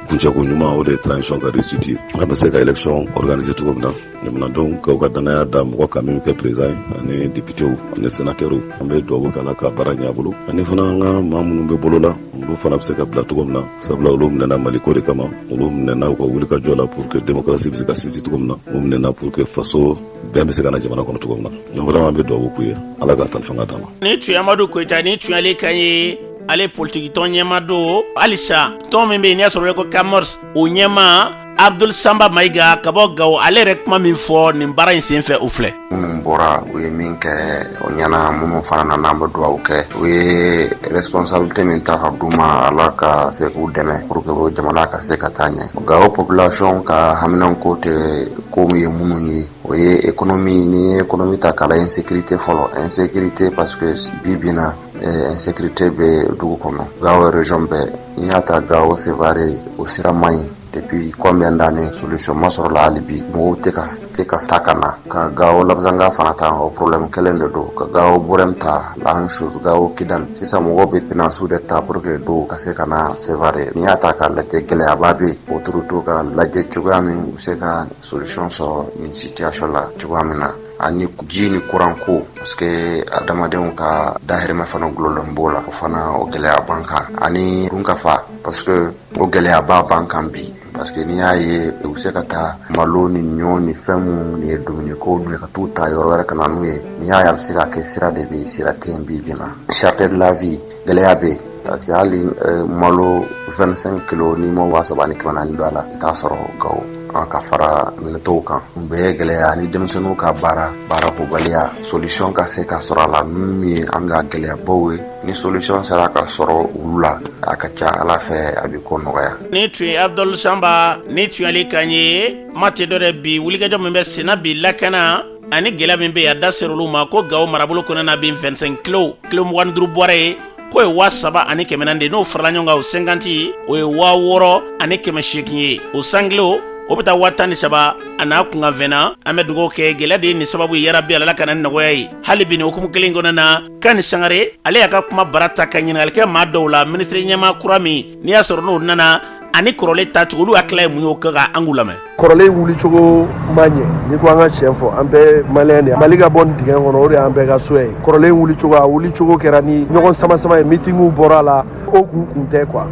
S8: kuncɛko ɲuman o de ye transition ka réussite ye an bɛ se ka élection organiser cogo min na jamanadenw ka u ka danaya da mɔgɔ kan min bɛ kɛ président ye ani députés ani sénateurs an bɛ dugawu kɛ Ala ka baara ɲɛ a bolo ani fana an ka maa minnu bɛ bolo la olu fana bɛ se ka bila cogo min na sabula olu minɛna Mali ko de kama olu minɛna u ka wulikajɔ la pour que démocratie bɛ se ka sinsin cogo min na u minɛna pour que faso bɛn bɛ se ka na jamana kɔnɔ cogo min na donc vraiment an bɛ dugawu k'u ye ala k'a tali fanga d'a ma nin tun ye amadu
S2: koyita nin tun y'ale kan ye ale politiki tɔn ɲɛmaa don halisa tɔn min bɛ yen n'i y'a sɔrɔ bɛ ko camors o ɲɛmaa abdul sanba mayiga ka bɔ gawo ale yɛrɛ kuma min fɔ nin baara in sen fɛ o filɛ minnu bɔra u
S9: ye min kɛ o ɲɛna minnu fana nana an bɛ dugawu kɛ u ye responsabilité min ta ka d'u ma ala ka se k'u dɛmɛ pour que jamana ka se ka taa ɲɛ gawo population ka haminanko tɛ ko min ye minnu ye o ye économie n'i ye économie ta k'a la insécurité fɔlɔ insécurité parce que bi bi in na insécurité bɛ dugu kɔnɔ gawo région bɛɛ n'i y'a ta gawo seware o sira man ɲi depuis combien d'années solution ma sɔrɔ a la hali bi mɔgɔw tɛ ka se ka taa ka na ka gawo labezanga fana ta o problème kelen de don ka gawo burɛm ta la même chose gawo kidal sisan mɔgɔw bɛ pinassew de ta pour que dɔw ka se ka na seware n'i y'a ta k'a lajɛ gɛlɛyaba bɛ autoritéw k'a lajɛ cogoya min u bɛ se ka solution sɔrɔ nin situation la cogoya min na ani ji ni kuran ko parce que adamadenw ka dahirimɛ fana gulonnen b'o la o fana o gɛlɛya b'an kan ani dunkafa parce que o gɛlɛyaba b'an kan bi parce que n'i y'a ye u bɛ se ka taa malo ni ɲɔ ni fɛn minnu ni ye dumuniko ye ka t'u ta yɔrɔ wɛrɛ ka na n'u ye n'i y'a ye a bɛ se ka kɛ sira de bɛ yen sira tɛ yen bi bi in na cherté de la vie gɛlɛya bɛ yen parce que hali euh, malo 25 kilo n'i ma waa saba ni kɛmɛ naani don a la i t'a sɔrɔ gawo an k'a fara minɛn tɔw kan u bɛɛ gɛlɛya ni denmisɛnninw ka baara baarako gɛlɛya solution ka se ka sɔrɔ a la ninnu ye an ka gɛlɛyabaw ye ni solution sera ka sɔrɔ olu la a ka ca ala fɛ a bɛ ko nɔgɔya nin tun ye abdul sanba nin tun y'ale kan ye kuma tɛ dɔ wɛrɛ bi wulikajɔ min bɛ senna bi lakana ani gɛlɛya min bɛ yen a da ser'olu ma ko gawo marabolo kɔnɔna bi 25 kilo kilo mugan ni duuru bɔrɛ ye k'o ye waa saba ani kɛmɛ naani de n'o farala ɲɔgɔn kan o cinquante o ye waa wɔɔrɔ ani kɛmɛ seegin ye o cent kilo o bɛ taa waa tan ni saba a n'a kunkanfɛn na an bɛ dugawu kɛ gɛlɛya de ye nin sababu ye yarabi ala ka na ni nɔgɔya ye hali bi nin hukumu kelen kɔnɔna kani sangare ale y'a ka kumabara ta ka ɲininkali kɛ maa dɔw la minisiri ɲɛmaa kura min n'i y'a sɔrɔ n'o nana ani kɔrɔlen taacogo olu hakilina ye mun y'o ko kan an k'u lamɛn kɔrɔlen
S6: wulicogo ma ɲɛ n'i ko an ka tiɲɛ fɔ an bɛɛ maliyɛn de mali ka bɔ nin dingɛ kɔnɔ o de y'an bɛɛ ka souhait ye kɔrɔlen wulicogo a wulicogo kɛra ni ɲɔgɔn samasama ye mitingiw bɔra a la o kun kun tɛ quoi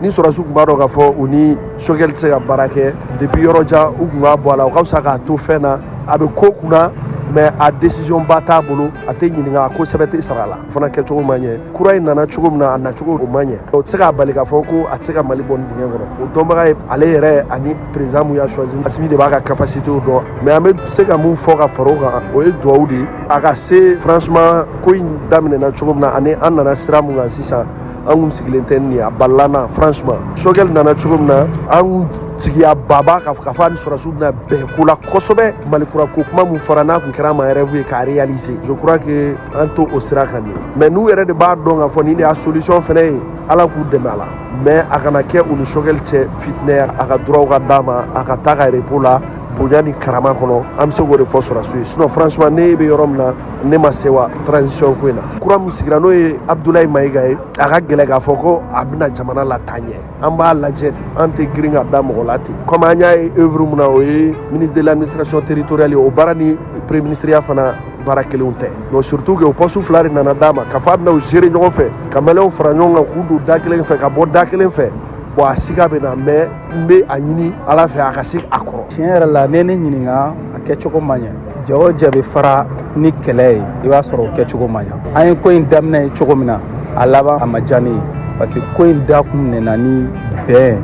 S6: ni sɔrɔsiw tun b'a dɔn k'a fɔ u ni sogɛli tɛ se ka baara kɛ depuis yɔrɔ jan u tun b'a bɔ a la o ka fisa k'a to fɛn na a bɛ ko kunna mais a décision ba t'a bolo a tɛ ɲininka a ko sɛbɛ tɛ sara la o fana kɛcogo ma ɲɛ kura in nana cogo min na a nacogo o ma ɲɛ o tɛ se k'a bali k'a fɔ ko a tɛ se ka mali bɔ nin dingɛ kɔnɔ o dɔnbaga ye ale yɛrɛ ani président mun y'a choisi asimi de b'a ka capacité dɔn mais an bɛ se ka mun fɔ ka fara o kan o ye dugawu de ye a ka se franchement ko in daminɛna cogo min na ani an nana sira mun kan sisan an kun sigilen tɛ nin ye a balala an na franchement sogɛli nana cogo min na an kun jigiya baba k'a fɔ a ni sɔrɔsiw bɛna bɛn ko la kosɛbɛ mali kura ko kuma min fɔra n'a kun kɛra ma rêve ye k'a réaliser je crois que an t'o sira kan dɛ mais n'u yɛrɛ de b'a dɔn k'a fɔ nin de y'a solution fɛnɛ ye ala k'u dɛmɛ a la mais a kana kɛ u ni sogɛli cɛ fitinɛ ye a ka droit ka d'a ma a ka taa ka repos la bonya ni karama kɔnɔ an bɛ se k'o de fɔ sɔrɔsiw ye sinon franchement ne bɛ yɔrɔ min na ne ma sewa transition ko in na kura min sigira n'o ye abudulayi mayiga ye a ka gɛlɛn k'a fɔ ko a bɛna jamana lataa ɲɛ an b'a lajɛ an tɛ girin ka da mɔgɔ la ten komi an y'a ye œuvre min na o ye ministre de l'administration territoriale ye o baara ni premier ministreya fana baara kelenw tɛ donc surtout que o poste fila de nana d'a ma k'a fɔ a bɛna u gérer ɲɔgɔn fɛ ka maliyɛnw fara ɲɔgɔn kan k'u don da kelen fɛ ka bɔ da kelen fɛ bon a siga bɛ n na mais n bɛ a ɲini ala fɛ a ka se a kɔrɔ tiɲɛ yɛrɛ la ne ne
S10: ɲininka a kɛcogo ma ɲɛ jɛ o jɛ bɛ fara ni kɛlɛ ye i b'a sɔrɔ o kɛcogo ma ɲɛ an ye ko in daminɛ ye cogo min na a laban a ma diya ne ye parce que ko in da kun minɛna ni bɛn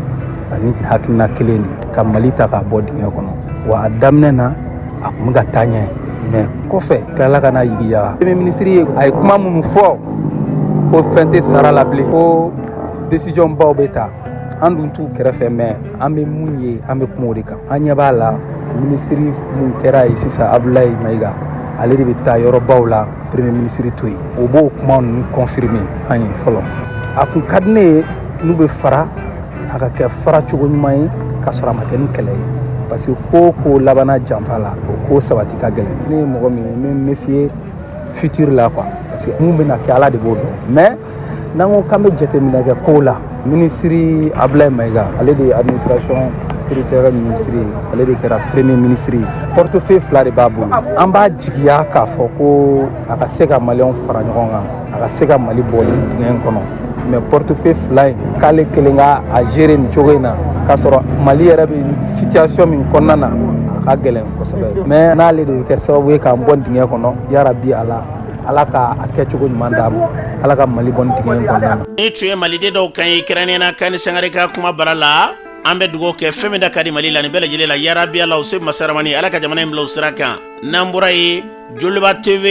S10: ani hakilina kelen de ka mali ta k'a bɔ dingɛ kɔnɔ wa a daminɛ na a kun bɛ ka taa ɲɛ mais kɔfɛ tilala ka na yigiyaga premier ministre ye a ye kuma minnu fɔ ko fɛn tɛ sara la bilen ko décision baw bɛ ta an dun t'u kɛrɛfɛ mais an bɛ mun ye an bɛ kuma o de kan an ɲɛ b'a la minisiri mun kɛra ye sisan abulayi mayiga ale de bɛ taa yɔrɔbaw la premier minisiri to yen o b'o kuma ninnu confirmer an ye fɔlɔ a kun ka di ne ye n'u bɛ fara a ka kɛ fara cogo ɲuman ye ka sɔrɔ a ma kɛ ni kɛlɛ ye parce que ko o ko labanna janfa la o ko sabati ka gɛlɛn ne ye mɔgɔ min ye n bɛ méfier futur la quoi parce que mun bɛna kɛ ala de b'o dɔn mais n'an ko k'an bɛ jateminɛ kɛ kow la minisiri abulayi mayiga ale de ye administration territoriale minisiri ye ale de kɛra premier minisiri ye portefeuille fila de b'a bolo an b'a jigiya k'a fɔ ko a ka se ka maliyɛnw fara ɲɔgɔn kan a ka se ka mali bɔ nin dingɛ in kɔnɔ mais portefeuille fila in k'ale kelen ka a gérer nin cogo in na k'a sɔrɔ mali yɛrɛ bɛ situation min kɔnɔna na a ka gɛlɛn kosɛbɛ mais n'ale de bɛ kɛ sababu ye k'an bɔ dingɛ kɔnɔ yarabi ala ala ka a kɛcogo ɲuman d'a ma ala ka mali bɔ nin dingɛ in kɔnɔna na nin tun ye maliden
S2: dɔw kan ye kɛrɛnnenya na kani sangare ka kumabara la an bɛ dugawu kɛ fɛn min da ka di mali la nin bɛɛ lajɛlen la yarabi ala u se masaramani ala ka jamana in bila o sira kan n'an bɔra yen joliba tv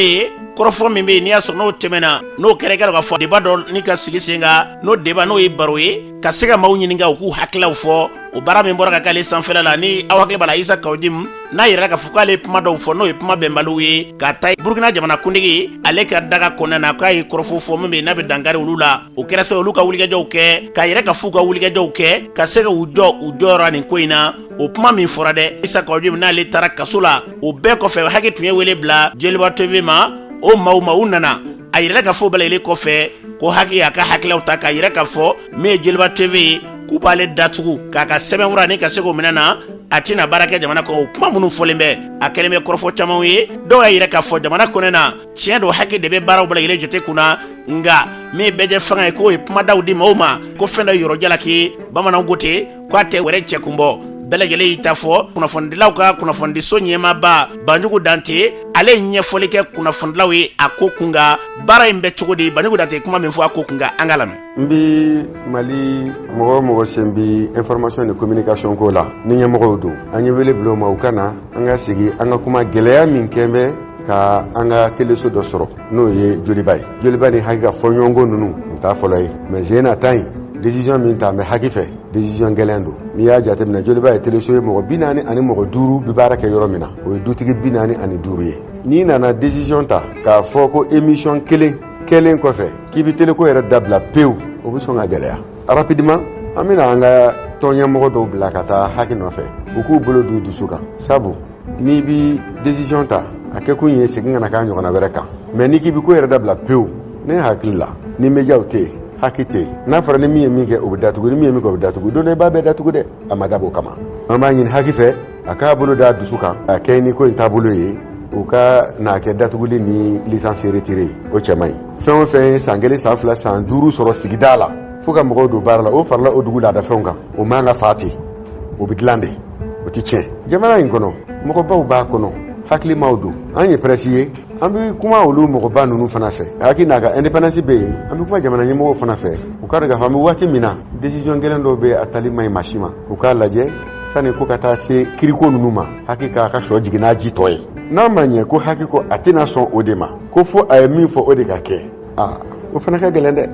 S2: kɔrɔfɔ min bɛ yen n'i y'a sɔrɔ n'o tɛmɛna n'o kɛra i k'a dɔn k'a fɔ deba dɔ ni ka sigi sen kan n'o deba n'o ye baro ye ka se ka maaw ɲininka u k'u hakililaw fɔ o baara min bɔra ka k'ale sanfɛla la ni aw hakili b'a la isa kawu jim n'a yirala k'a fɔ k'ale kuma dɔw fɔ n'o ye kuma bɛnbaliw ye ka taa burukina jamana kuntigi ale ka daga kɔnɔna na k'a ye kɔrɔfɔ fɔ min bɛ yen n'a bɛ dankari olu la o kɛra sɛ olu ka wulikajɔw kɛ k'a yira k'a f'u ka wulikajɔw kɛ ka se ka u jɔ u jɔyɔrɔ nin ko in na o kuma min fɔra dɛ isa kawu jim n'ale taara kaso la o bɛɛ kɔfɛ haki tun ye wele bila jeliba tv ma o maaw ma u nana a yirala k'a fɔ o bɛɛ lajɛlen kɔfɛ ko haki y'a ka hakililaw ta k'a yira k'a fɔ min ye jeliba tv ye k'u b'ale datugu k'a ka sɛbɛnfuranin ka se k'o minɛ na a tɛna baara kɛ jamana kɔnɔ o kuma minnu fɔlen bɛ a kɛlen bɛ kɔrɔfɔ camanw ye dɔw y'a yira k'a fɔ jamana kɔnɔna na tiɲɛ don haki de bɛ baaraw bɛɛ lajɛlen jate kun na nka min ye bɛɛjɛfanga ye k'o ye kumadaw di maaw ma ko fɛn da yɔrɔ jalaki bamananw ko ten k'a tɛ wɛrɛ cɛ kun bɔ bɛɛ lajɛlen y'i ta fɔ kunnafonidilaw ka kunnafonidiso ɲɛmaaba banjugu dante ale ye ɲɛfɔli kɛ kunnafonidilaw ye a ko kun kan baara in bɛ cogo di banjugu dante ye kuma min fɔ a ko kun kan an k'a lamɛn n
S11: bi mali mɔgɔ o mɔgɔ sen bi information ni communication ko la ni ɲɛmɔgɔw don an ye wele bila u ma u ka na an ka sigi an ka kuma gɛlɛya min kɛn bɛ ka an ka teleso dɔ sɔrɔ n'o ye joliba ye joliba ni haki ka fɔɲɔgɔnko ninnu nin t'a fɔlɔ ye mɛ sen in na ta in desiziyɔn min talen bɛ haki fɛ desiziyɔn gɛlɛn don n'i y'a jateminɛ joliba ye teleso ye mɔgɔ bi naani ani mɔgɔ duuru bi baara kɛ yɔrɔ min na o ye dutigi bi naani ani duuru ye n'i nana desiziyɔn ta k'a fɔ ko emisiyɔn kelen kɛlen kɔfɛ k'i bɛ teleko yɛrɛ dabila pewu o bɛ sɔn ka gɛlɛya rapidiman an bɛna an ka tɔnɲɛmɔgɔ dɔw bila ka taa haki nɔfɛ u k'u bolo d'u dusu kan sabu n'i bi decision ta a kɛ kun ye segin kana k'a ɲɔgɔnna wɛrɛ kan mɛ n'i k'i bi ko yɛrɛ dabila pewu ne hakili la ni mejaw tɛ yen haki tɛ yen n'a fɔra ni min ye min kɛ o bɛ datugu ni min ye min kɛ o bɛ datugu don dɔ i b'a bɛɛ datugu dɛ a ma dab'o kama an b'a ɲini haki fɛ a k'a bolo d'a dusu kan ka kɛɲɛ ni ko in taabolo ye u kan'a kɛ datuguli ni lisansi retire ye o cɛ man ɲi fɛn o fɛn ye san kelen san fila san duuru sɔrɔ sigida la fo ka mɔgɔw don baara la o farala o dugu laadafɛnw kan o man ka fa ten o bɛ dilan de o tɛ tiɲɛ jamana in kɔnɔ mɔgɔbaw b'a kɔnɔ hakilimaw don an ye prɛsi ye an bɛ kuma olu mɔgɔba ninnu fana fɛ haki n'a ka independence bɛ yen an bɛ kuma jamana ɲɛmɔgɔw fana fɛ u k'a dɔn k'a fɔ an bɛ waati min na decision gɛlɛn dɔw bɛ a tali man ɲi maa si ma u k'a lajɛ sani ko ka taa se kiriko ninnu ma haki k'a ka sɔ jigin n'a ji tɔ ye n'a ma ɲɛ ko haki ko a tɛna sɔn o de ma ko fo a ye min fɔ o de ka kɛ aa o fana ka gɛlɛn dɛ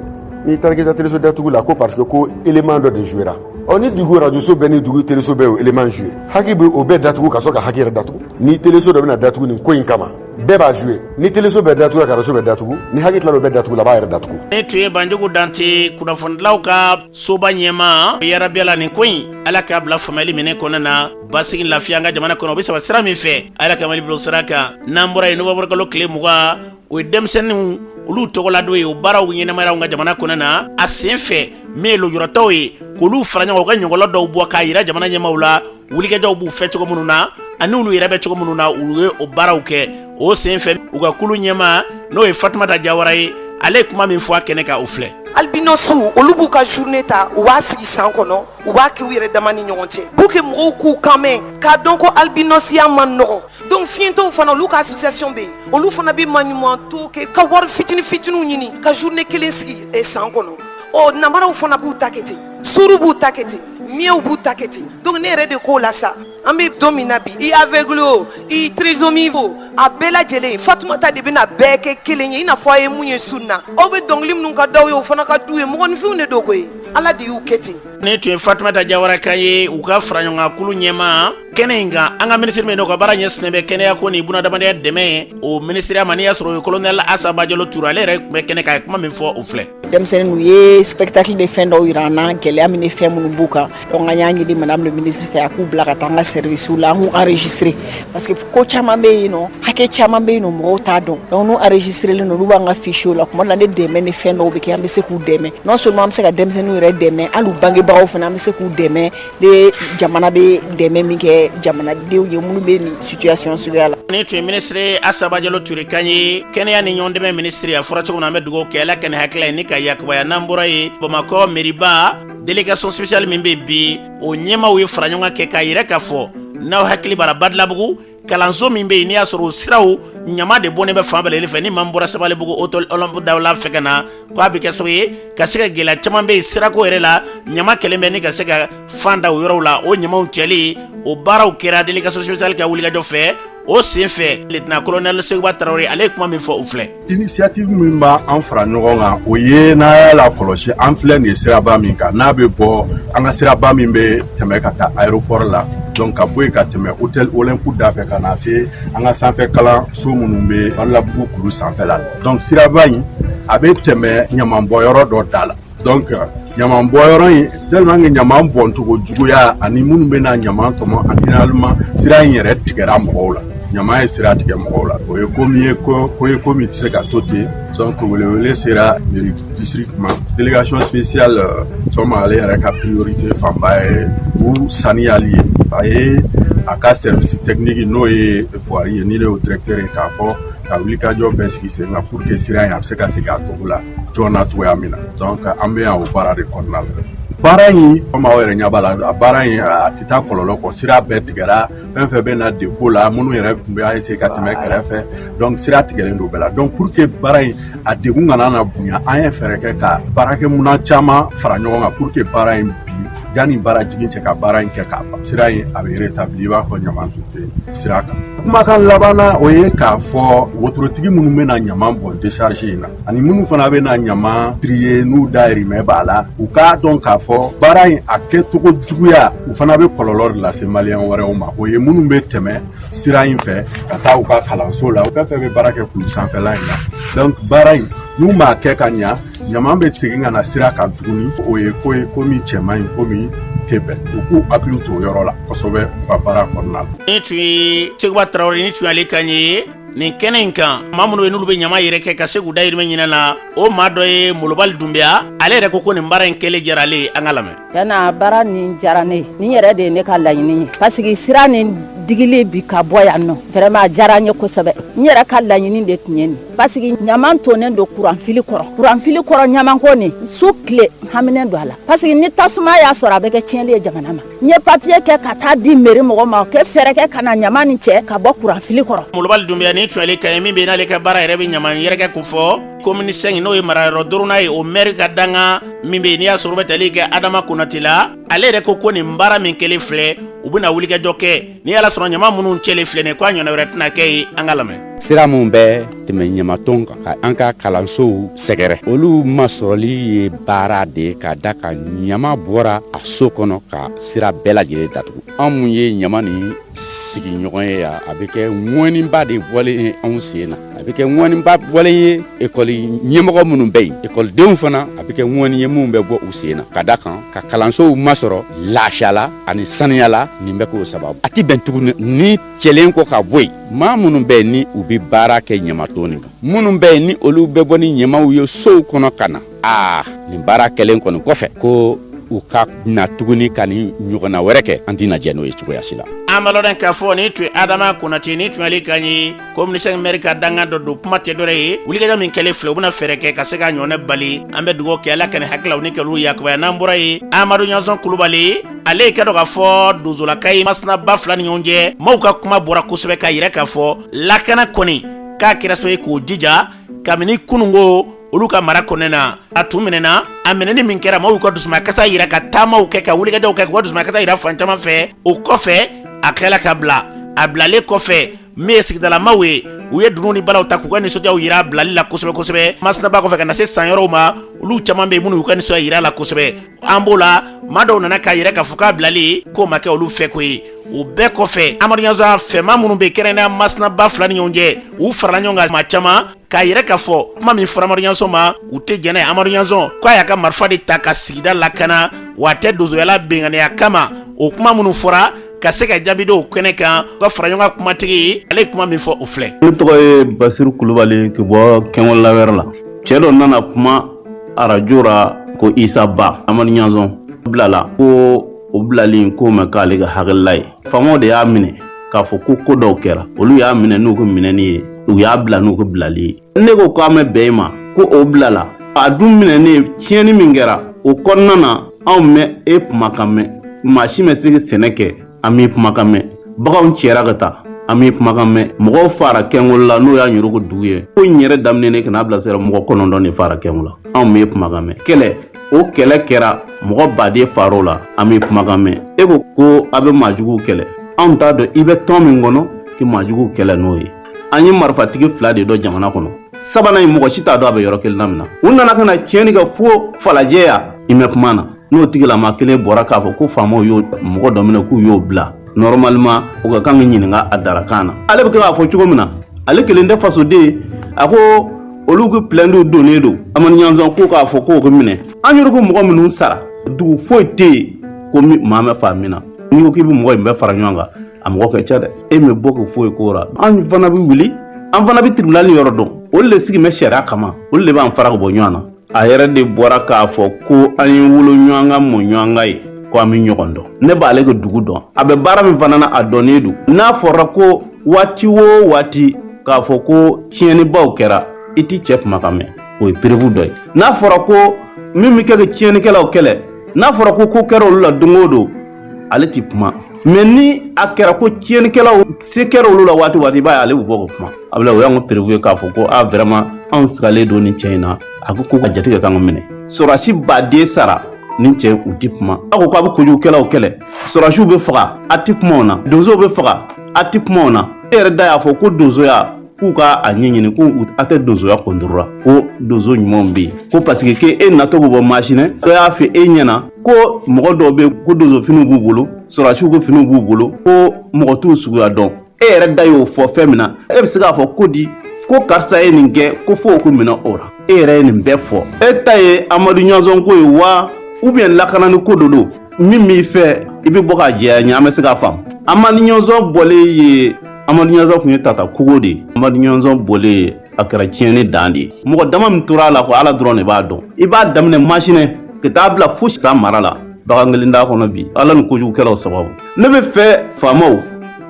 S11: n'i taara k'i ta teleso datugu la ko parce que ko élément dɔ de jouera ɔ ni dugu rajoso bɛɛ ni dugu teleso bɛɛ o élément joué haki bɛ o bɛɛ datugu ka sɔrɔ ka haki yɛrɛ datugu ni teleso dɔ bɛna datugu nin ko in kama bɛɛ b'a joué ni teleso bɛɛ datugu ka rajoso bɛɛ datugu ni haki tilala o bɛɛ datugu la a b'a yɛrɛ datugu nin tun ye
S2: banjugu dante kunnafonidilaw ka soba ɲɛmaa yarabi ala nin ko in ala k'a bila faamuyali minɛn kɔnɔ na basigi lafiya an ka jamana kɔnɔ o bɛ saba sira min fɛ ala ka mali bila o sira kan n'an bɔra yen nowanburukalo tile mugan o ye denmisɛnninw olu tɔgɔladon ye o baaraw ɲɛnamayara an ka jamana kɔnɔ na a sen fɛ min ye lujuratɔw ye k'olu fara ɲɔgɔn u ka ɲɔgɔlɔn dɔw bɔ k'a yira jamana ɲɛmaaw la wulikajɔw b'u fɛ cogo minnu na ani olu yɛrɛ bɛ cogo minnu na u ye o baaraw kɛ o sen fɛ u ka kulu ɲɛmaa n'o ye fatumata jawara ye ale ye kuma min fɔ a kɛnɛ kan o filɛ albinɔsiw
S12: olu b'u ka journée ta u b'a sigi san kɔnɔ u b'a kɛ u yɛrɛ dama ni ɲɔgɔn cɛ pour que mɔgɔw k'u kan mɛn k'a dɔn ko albinɔsiya man nɔgɔn donc fiɲɛtɔw fana olu ka association bɛ yen olu fana bɛ maɲumanto kɛ ka wari fitini fitiniw ɲini ka journée kelen sigi eh, san kɔnɔ ɔ namaraw fana b'u ta kɛ ten sourd b'u ta kɛ ten muetw b'u ta kɛ ten donc ne yɛrɛ de k'o la sa an bɛ don min na bi i aveugle o i trisomie o a bɛɛ lajɛlen fatumata de bɛna bɛɛ kɛ kelen ye i n'a fɔ a ye mun ye su na aw bɛ dɔnkili minnu ka d'aw ye o fana ka d'u ye mɔgɔninfinw de don koyi ala de y'u kɛ ten nin tun ye fatumata
S2: jawara kan ye u ka faraɲɔgɔnkankulu ɲɛmaa kɛnɛ in kan an ka minisiri min n'o ka baara ɲɛsinnen bɛ kɛnɛya ko ni bunadamadenya dɛmɛ ye o minisiriya ma n'i y'a sɔrɔ o ye kolonɛli asa bajalo ture ale yɛrɛ tun bɛ kɛnɛ kan a ye kuma min fɔ o filɛ denmisɛn ninnu ye
S13: spectacle de fɛn dɔw yira an na gɛlɛya min ni fɛn minnu b'u kan donc an y'a ɲini madame le ministre fɛ a k'u bila ka taa an ka service la an k'u enregistré parce que ko caman bɛ yen nɔ hakɛ caman bɛ yen nɔ mɔgɔw t'a dɔn donc n'u enregistrelen don olu b'an ka fichier la tuma dɔ la ni dɛmɛ ni fɛn dɔw bɛ kɛ an bɛ se k'u dɛmɛ non seulement an bɛ se ka denmisɛnninw yɛrɛ dɛmɛ hali u bangebagaw fana an bɛ se k'u dɛmɛ De jamana bɛ dɛmɛ min kɛ jamanadenw ye minnu bɛ nin situation suguya la nin tun ye minisiri
S2: asa bajalo ture kan ye kɛnɛya ni ɲɔgɔn dɛmɛ minisiri a fɔra cogo min na an bɛ dugawu kɛ ala ka nin hakilila in ni ka yakubaya n'an bɔra yen bamakɔ mairie-ba délégation spéciale min bɛ bi o ɲɛmaaw ye faraɲɔgɔnkan kɛ k'a yira k'a fɔ n'aw hakili b'a la badalabugu kalanso min bɛ yen n'i y'a sɔrɔ o siraw ɲama de bɔnnen bɛ fan bɛɛ fɛ ni maa min bɔra sabalibugu hôtel olympe dawula fɛ ka na ko a bɛ kɛ sababu ye ka se ka gɛlɛya caman bɛ yen sirako yɛrɛ la ɲama kɛlen bɛ ni ka se ka fan da o yɔrɔw la o ɲamaw cɛli o baaraw kɛra délégation spéciale ka wulikajɔ fɛ o sen fɛ lieutenant colonel sekuba traoré ale ye kuma min fɔ o filɛ Initiative min
S14: b'a an fara ɲɔgɔn kan o ye n'a y'a lakɔlɔsi an filɛ nin ye siraba min kan n'a bɛ bɔ an ka siraba min bɛ tɛmɛ ka taa aéroport la donc ka bɔ yen ka tɛmɛ hôtel Olympe da fɛ ka na se an ka sanfɛ kalanso minnu bɛ Badalabugu kulu sanfɛla la donc siraba in a bɛ tɛmɛ ɲamanbɔnyɔrɔ dɔ da la donc ɲaman bɔn yɔrɔ in tellement que ɲaman bɔncogo juguya ani minnu bɛ na ɲaman tɔmɔ a finalement sira in yɛrɛ tigɛra mɔgɔw la ɲaman ye sira tigɛ mɔgɔw la o ye ko min ye ko ye ko min tɛ se ka to ten donc welewele sera district ma délégation spéciale euh, fɛn ale yɛrɛ ka priorité fanba ye u saniyali ye a ye a ka service technique n'o ye voirie ye ni ne y'o directeur ye k'a bɔ ka wulikajɔ bɛɛ sigi sen kan pour que sira in a bɛ se ka segin a cogo la joona cogoya min na donc an bɛ yan o baara de kɔnɔna la baara in komi aw yɛrɛ ɲɛ b'a la a baara in a tɛ taa kɔlɔlɔ kɔ sira bɛɛ tigɛra fɛn fɛn bɛ na depo la minnu yɛrɛ tun bɛ essayer ka tɛmɛ kɛrɛfɛ donc sira tigɛlen don bɛɛ la donc pour que baara in a degun kana na bonya an ye fɛɛrɛ kɛ ka baarakɛminɛn caman fara ɲɔgɔn kan pour que baara in bi yanni baara jigin cɛ ka baara in kɛ k'a ban sira in a bɛ rétabli i b'a fɔ ɲaman tun tɛ sira kan kumakan laban na o ye k'a fɔ wotorotigi minnu bɛ na ɲaman bɔn décharge in na ani minnu fana bɛ na ɲama trier n'u dayirimɛ b'a la u k'a dɔn k'a fɔ baara in a kɛcogo juguya u fana bɛ kɔlɔlɔ de lase maliyɛn wɛrɛw ma o ye minnu bɛ tɛmɛ sira in fɛ ka taa u ka kalanso la u fɛn fɛn bɛ baara kɛ kulu sanfɛla in na donc baara in n'u m'a kɛ ka ɲa ɲama bɛ segin ka na sira kan tuguni o ye ko ye ko min cɛ man ɲi ko min tɛ bɛn u k'u hakili to o yɔrɔ la kosɛbɛ u ka baara kɔnɔna la. nin tun ye
S2: seguba tarawele nin tun y'ale kan ye nin kɛnɛ in kan maa minnu bɛ n'olu bɛ ɲama yɛrɛkɛ ka se k'u dayirimɛ ɲini na o maa dɔ ye molobali dunbiya ale yɛrɛ ko ko nin baara in kɛlen diyara ale ye an k'a lamɛn tiɲɛ na baara nin
S15: diyara ne ye nin yɛrɛ de ye ne ka laɲini ye pasiki sira nin digili bi ka bɔ yan nɔ vraiment a diyara n ye kosɛbɛ n yɛrɛ ka laɲini de tun ye nin pasiki ɲaman tonnen don kuranfili kɔrɔ kuranfili kɔrɔ ɲamanko nin su tile haminen don a la pasiki ni tasuma y'a sɔrɔ a bɛ kɛ tiɲɛli ye jamana ma N ye papiye kɛ ka taa di meri mɔgɔ ma ka fɛɛrɛ kɛ ka na ɲama nin cɛ ka bɔ kuranfili kɔrɔ molobali dunbiya nin tun
S2: y'ale kan ye min bɛ n'ale ka baara yɛrɛ bɛ ɲama yɛrɛkɛ ko fɔ komini sɛnki n'o ye marayɔrɔ duurunan ye o mɛri ka dankan min bɛ n'i y'a sɔrɔ bɛ tali kɛ adama konate la ale yɛrɛ ko ko nin baara min kɛlen filɛ u bɛna wulikajɔ kɛ n'i y'a sɔrɔ ɲama minnu cɛlen filɛ nin ye k'a ɲɔgɔnna wɛrɛ tɛna kɛ yen an k'a lamɛn sira minnu
S16: bɛ tɛmɛ ɲamaton kan ka an ka kalansow sɛgɛrɛ olu masɔrɔli ye baara de ye ka da a kan ɲama bɔra a so kɔnɔ ka sira bɛɛ lajɛlen datugu an minnu ye ɲama nin sigiɲɔgɔn ye yan a bɛ kɛ ŋɔniba de bɔlen ye anw sen na a bɛ kɛ ŋɔniba bɔlen ye ekɔli ɲɛmɔgɔ minnu bɛ yen ekɔlidenw fana a bɛ kɛ ŋɔni ye minnu bɛ bɔ u sen na ka da a kan ka kalansow masɔrɔ lafiya la ani saniya la nin bɛ k'o sababu a tɛ bɛn tuguni nin cɛlen kɔ ka bɔ yen maa minnu bɛ yen ni u bɛ baara kɛ ɲamaton nin kan minnu bɛ yen ni olu bɛ bɔ ni ɲamaw ye sow kɔnɔ ka na aa nin baara kɛlen kɔni kɔfɛ ko u ka na tuguni ka nin ɲɔgɔnna wɛrɛ kɛ an tɛna jɛn n'o ye cogoya si la an b'a lɔn k'a fɔ
S2: nin tun ye adama konate nin tun y'ale kan ye komini sɛnki mɛri ka dankan dɔ don kuma tɛ dɔrɛ ye wulikajɔ min kɛlen filɛ u bɛna fɛɛrɛ kɛ ka se k'a ɲɔgɔnna bali an bɛ dugawu kɛ ala ka nin hakililaw ni kɛlɛw yakubaya n'an bɔra ye amadu ɲanzɔn kulubali ale ye k'a dɔn k'a fɔ donsolaka ye masina ba fila ni ɲɔgɔn cɛ maaw ka kuma bɔra kosɛbɛ k'a yira k'a fɔ lakana kɔni k'a kɛra so ye k'o jija kabini kununko olu ka mara kɔnɔna na a tun minɛna a minɛni min kɛra maaw ka dusumakasa yira ka taamaw kɛ ka wulikajɔw kɛ k'u ka dusumakasa yira fan caman fɛ o kɔfɛ a kɛla ka bila a bilalen kɔfɛ min ye sigidalamaaw ye u ye dunun ni balaw ta k'u ka nisɔndiyaw yira a bilali la kosɛbɛ kosɛbɛ masina ba kɔfɛ ka na se san yɔrɔw ma olu caman bɛ yen minnu y'u ka nisɔndiya yira a la kosɛbɛ an b'o la maa dɔw nana k'a yira k'a fɔ k'a bilali k'o ma kɛ olu fɛ ko ye o bɛɛ kɔfɛ amadu ɲanzɔn fɛ maa minnu bɛ kɛrɛnkɛrɛnnenya masina ba fila ni ɲɔgɔn cɛ u farala ɲɔgɔn kan maa caman k'a yira k'a fɔ kuma min fɔra amadu ɲanzɔn ma u tɛ jɛn n'a ye amadu ɲanzɔn k'a y'a ka marifa de ta ka sigida lakana wa a tɛ donsoya la binkanniya kama o kuma minnu fɔra ka se ka jaabi dɔw kɛnɛ kan u ka fara ɲɔgɔn kan kumatigi ale ye kuma min fɔ o filɛ ne tɔgɔ
S17: ye basiru kulubali ka bɔ kɛnwala wɛrɛ la cɛ dɔ nana kuma arajo ra ko isa ba amadu ɲanzɔn bilala ko o bilali k'o ma k'ale ka hakilila ye faamaw de y'a minɛ k'a fɔ ko ko dɔw kɛra olu y'a minɛ n'u ka minɛni ye u y'a bila n'u ka bilali ye ne ko k'a ma bɛn i ma ko o bilala a dun minɛnen tiɲɛni min kɛra o kɔnɔna na anw mɛ e kumakan mɛn maa si ma se ka sɛnɛ kɛ an m'i kumakan mɛn baganw cɛra ka taa an m'i kumakan mɛn mɔgɔw fara kɛngolo la n'o y'a ɲurugu dugu ye ko in yɛrɛ daminɛ ka n'a bila sira mɔgɔ kɔnɔntɔn de fara kɛngo la anw m'i kumakan mɛn kɛlɛ o kɛlɛ kɛra mɔgɔ baden far'o la an m'i kumakan mɛn e ko ko a bɛ maajuguw kɛlɛ anw t'a dɔn i bɛ tɔn min kɔnɔ k'i maajuguw kɛlɛ n'o ye an ye marifatigi fila de dɔn jamana kɔnɔ sabanan in mɔgɔ si t'a dɔn a bɛ yɔrɔ kelen na min na u nana ka na tiɲɛni kɛ fo falajɛ yan i mɛ kuma na n'o tigilama kelen bɔra k'a fɔ ko faamaw y'o mɔgɔ dɔ minɛ k'u y'o bila nɔrimaliman o ka kan ka ɲininka a darakan na ale bɛ kɛ k'a fɔ cogo min na ale kelen tɛ fasoden a ko olu ka pilɛnti donnen don amadu ɲanzɔn ko k'a fɔ k'o ka minɛ an yɛrɛ ko mɔgɔ minnu sara dugu foyi tɛ yen ko maa ma fa min na n'i ko k'i bɛ mɔgɔ in bɛɛ fara ɲɔgɔn kan a mɔgɔ ka ca dɛ e ma bɔ ka foyi k'o la an fana bɛ wuli an fana bɛ tiribinali yɔrɔ dɔn olu de sigilen bɛ sariya kama olu de b'an fara ka bɔ ɲɔgɔn na a yɛrɛ de bɔra k'a fɔ ko an ye wolo ɲɔgɔn kan mɔ ɲɔgɔn kan ye ko an bɛ ɲɔgɔn dɔn ne b'ale ka dugu dɔn a bɛ baara min fana na a dɔnnen don n'a fɔra ko waati o waati k'a fɔ ko tiɲɛnibaw kɛra i t'i cɛ kumakan mɛn o ye perebu dɔ ye n'a fɔra ko min bɛ kɛ ka tiɲɛnikɛlaw kɛlɛ n'a fɔra ko ko kɛra olu la don o don ale tɛ kuma mɛ ni a kɛra ko tiɲɛnikɛlaw se kɛra olu la waati waati i b'a ye ale bɛ bɔ ka kuma a bɛ o y'an ka perebu ye k'a fɔ ko a vraiment anw sigalen don nin cɛ in na a ko ko ka jate ka kan ka minɛ sɔrɔdasi baden sara nin cɛ u tɛ kuma a ko k'a bɛ kojugukɛlaw kɛlɛ sɔrɔdasiw bɛ faga a tɛ kuma o na donsow bɛ faga a tɛ kuma o na e yɛrɛ da y'a fɔ ko donsoya k'u ka a ɲɛɲini ko a tɛ donsoya kɔntorora ko donso ɲumanw bɛ yen ko paseke ke e natɔ bɛ bɔ masinɛ dɔ y'a fɔ e ɲɛna ko mɔgɔ dɔw bɛ ko donsofiniw b'u bolo sɔrɔdasiw ko finiw b'u bolo ko mɔgɔ t'u suguya dɔn e yɛrɛ da y'o fɔ fɛn min na e bɛ se k'a fɔ ko di ko karisa ye nin kɛ ko fo k'o minɛ o la e yɛrɛ ye nin bɛɛ fɔ e ta ye amadu ɲɔnsɔn ko ye wa ubiyɛn lakanani ko dɔ don min b'i fɛ i bɛ bɔ k'a jɛya ɲɛ an bɛ se k'a faamu amadu ɲɔnsɔn bɔlen yen amadu ɲɔnsɔn tun ye tata kogo de ye amadu ɲɔnsɔn bɔlen a kɛra tiɲɛni dan de ye mɔgɔ dama min tora a la kɔ ala dɔrɔn de b'a dɔn i b'a daminɛ masinɛ ka taa bila fo san mara la bagan kelen t'a kɔnɔ bi ala ni kojugukɛlaw sababu ne bɛ fɛ faamaw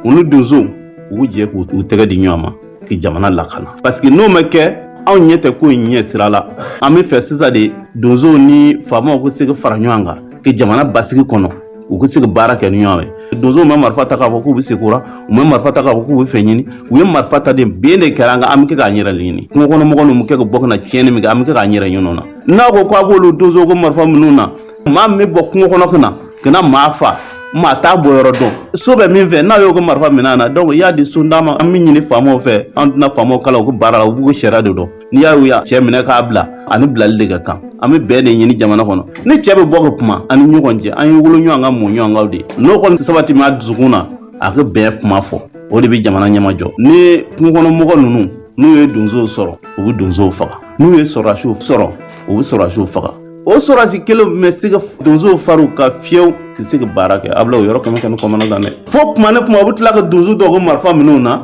S17: u ni donsow u k'u jɛ k'u tɛgɛ di ɲɔgɔn ma ka jamana lakana paseke n'o ma kɛ anw ɲɛ tɛ ko in ɲɛ sira la an bɛ fɛ sisan de donsow ni faamaw ka se ka fara ɲɔgɔn kan ka jamana basigi kɔnɔ u ka se ka baara kɛ ni ɲɔgɔn ye donsow ma marifa ta k'a fɔ k'u bɛ se kora u ma marifa ta k'a fɔ k'u bɛ fɛn ɲini u ye marifa ta de bin de kɛra an kan an bɛ kɛ k'an yɛrɛ ɲini kungo kɔnɔ mɔgɔ ninnu bɛ kɛ ka bɔ ka na tiɲɛni min kɛ an bɛ kɛ k'an yɛrɛ ɲin'o na n'a ko k'a b'olu donsow ka marifa minɛ u na maa min bɛ bɔ kungo kɔnɔ ka na ka na maa fa maa t'a bɔ yɔrɔ dɔn so bɛ min fɛ n'a y'o ka marifa minɛ na donc i y'a di so d'a ma an bɛ ɲini faamaw fɛ an tɛna faamaw kalan u ko baara la u b'u ka sariya de dɔn n'i y'a y'u y'a cɛ minɛ k'a bila ani bilali de ka kan an bɛ bɛn de ɲini jamana kɔnɔ nin cɛ bɛ bɔ ka kuma an ni ɲɔgɔn cɛ an ye wolo ɲɔgɔn ka mɔ ɲɔgɔn kaw de n'o kɔni sabati maa dusukun na a ka bɛn kuma fɔ o de bɛ jamana ɲɛma jɔ ni kungokɔnɔmɔgɔ ninnu n'u ye donsow sɔrɔ u bɛ donsow faga n'u ye sɔrɔdasiw sɔrɔ u bɛ sɔrɔdasiw faga o sɔrɔsi kelen bɛ se ka donsow fariw ka fiyew tɛ se ka baara kɛ a bila o yɔrɔ kɛmɛ kɛ ne kamana gan dɛ fo kuma ni kuma u bɛ tila ka donso dɔw ko marifa minɛ u na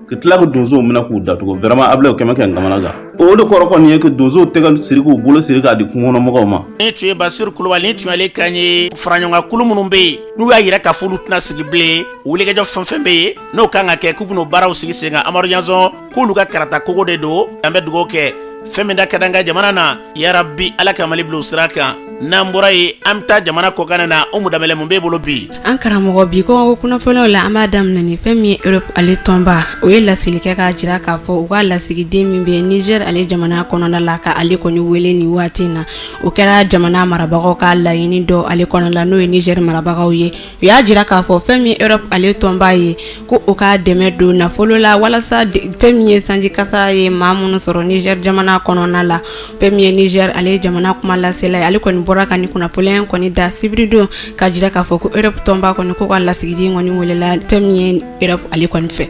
S17: ka tila ka donsow minɛ k'u datugu vraiment a bila o kɛmɛ kɛmɛ kamana gan o de kɔrɔ kɔni ye ka donsow tɛgɛ siri k'u bolo siri k'a di kungo kɔnɔ mɔgɔw ma nin tun ye basiru
S2: kulubali nin tun y'ale kan ye faraɲɔgɔnkan kulu minnu bɛ yen n'u y'a yira k'a fɔ olu tɛna sigi bilen wulikajɔ fɛn fɛn bɛ yen n'o ka kan ka kɛ k'u bɛn'o baaraw sigi sen kan amadu ɲɔnsɔn k'olu ka karata kogo de don an bɛ dugawu kɛ fɛn min da ka d'an ka jamana na yarabi ala ka mali bila o sira kan n'an bɔra yen an bɛ taa jamana kɔkan na umu danbɛlɛ mun b'e bolo bi an karamɔgɔ bi
S18: kɔkan kunnafoniw la an b'a daminɛ ni fɛn min ye europe ale tɔnba o ye laseli kɛ k'a jira k'a fɔ u ka lasigiden min bɛ niger ale jamana kɔnɔna la ka ale kɔni wele nin waati in na o kɛra jamana marabagaw ka laɲini dɔ ale kɔnɔna la n'o ye niger marabagaw ye u y'a jira k'a fɔ fɛn min ye europe ale tɔnba ye ko o ka dɛmɛ don nafolo la walasa fɛn min ye sanji kasa ye maa minnu sɔrɔ niger jamana kɔnɔna la fɛn min ye niger ale jamana kuma lasela ye ale kɔni bɔra ka nin kunnafoni in kɔni da sibiridon ka jira k'a fɔ ko europe tɔnba kɔni ko o ka lasigiden kɔni welela fɛn min ye europe ale kɔni fɛ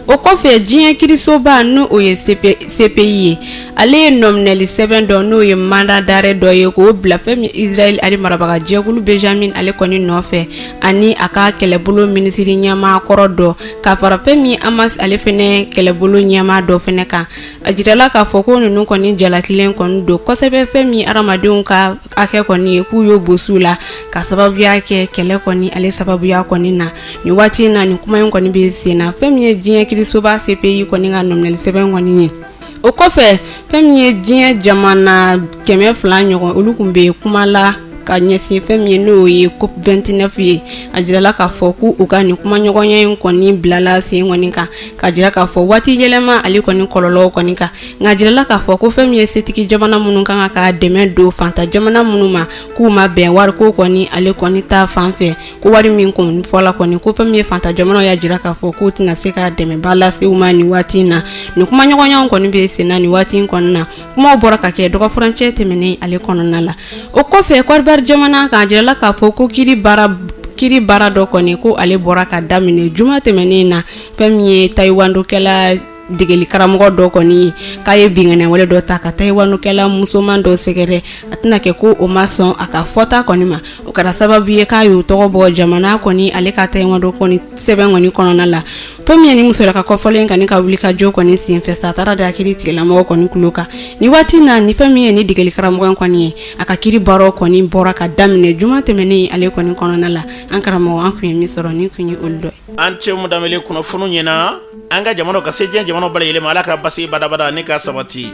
S18: o kɔfɛ diɲɛ kiirisoba n'o ye cpi ye ale ye nɔminɛli sɛbɛn dɔ n'o ye mandat d'arrêt dɔ ye k'o bila fɛn min israël ale marabagajɛkulu benjamin ale kɔni nɔfɛ ani a ka kɛlɛbolo minisiri ɲɛmaa kɔrɔ dɔ ka fara fɛn min ye hamas ale fɛnɛ kɛlɛbolo ɲɛmaa dɔ fɛnɛ kan a jirala k'a fɔ ko ninnu kɔni jalakilen kɔni don kosɛbɛ fɛn min ye hadamadenw ka hakɛ kɔni ye k'u y'o bɔsi u la ka sababuya kɛ kɛlɛ kɔni ale sababuya kɔni na nin waati in na nin kuma in kɔni bɛ sen na fɛn min ye diɲɛ kiirisoba cpi kɔni ka nɔminɛli sɛbɛn kɔni ye o kɔfɛ fɛn min ye diɲɛ jamana kɛmɛ fila ɲɔgɔn olu tun bɛ kuma la ka ɲɛsin fɛn min ye n'o ye cop 29 ye a jirala k'a fɔ ko u ka nin kumaɲɔgɔnya in kɔni bilala sen kɔni kan ka jira k'a fɔ waati yɛlɛma ale kɔni kɔlɔlɔw kɔni kan nka a jirala k'a fɔ ko fɛn min ye setigi jamana minnu ka kan ka dɛmɛ don fanta jamana minnu ma k'u ma bɛn wariko kɔni ale kɔni ta fan fɛ ko wari min kɔni fɔla kɔni ko fɛn min ye fanta jamanaw y'a jira k'a fɔ k'u tɛna se ka dɛmɛba lase u ma nin waati in na nin kumaɲɔgɔnyaw kɔni bɛ senna nin waati in kɔni na kumaw bɔra ka kɛ dɔgɔfurancɛ tɛmɛnen ale kɔnɔna la o kɔfɛ kɔdiwari jamana k'a jirala k'a fɔ ko kiiri baara kiiri baara dɔ kɔni ko ale bɔra ka daminɛ juma tɛmɛnen na fɛn min ye tayiwandokɛla degeli karamɔgɔ dɔ kɔni ye k'a ye binkanniwale dɔ ta ka tayiwandokɛla musoman dɔ sɛgɛrɛ a tɛna kɛ ko o ma sɔn a ka fɔta kɔni ma o kɛra sababu ye k'a y'o tɔgɔ bɔ jamana kɔni ale ka tayiwando kɔni sɛbɛn kɔni kɔnɔna la fɛn min ye nin musola ka kofɔlen in ka wuli ka jɔ kɔni senfɛ sa a taara a da kiiritigɛla mɔgɔ kɔni tulo kan nin waati in na ni fɛn min ye nin degeli karamɔgɔ kɔni ye a ka kiiri baaraw kɔni bɔra ka daminɛ juma tɛmɛnen ale kɔni kɔnɔna la an karamɔgɔ an tun ye min sɔrɔ nin tun ye olu dɔ ye a ni ce umu danbɛlɛ kunnafoni
S2: ɲɛna an ka jamana ka se diɲɛ jamana bɛɛ lajɛlen ma ala ka basi badabada ni ka sabati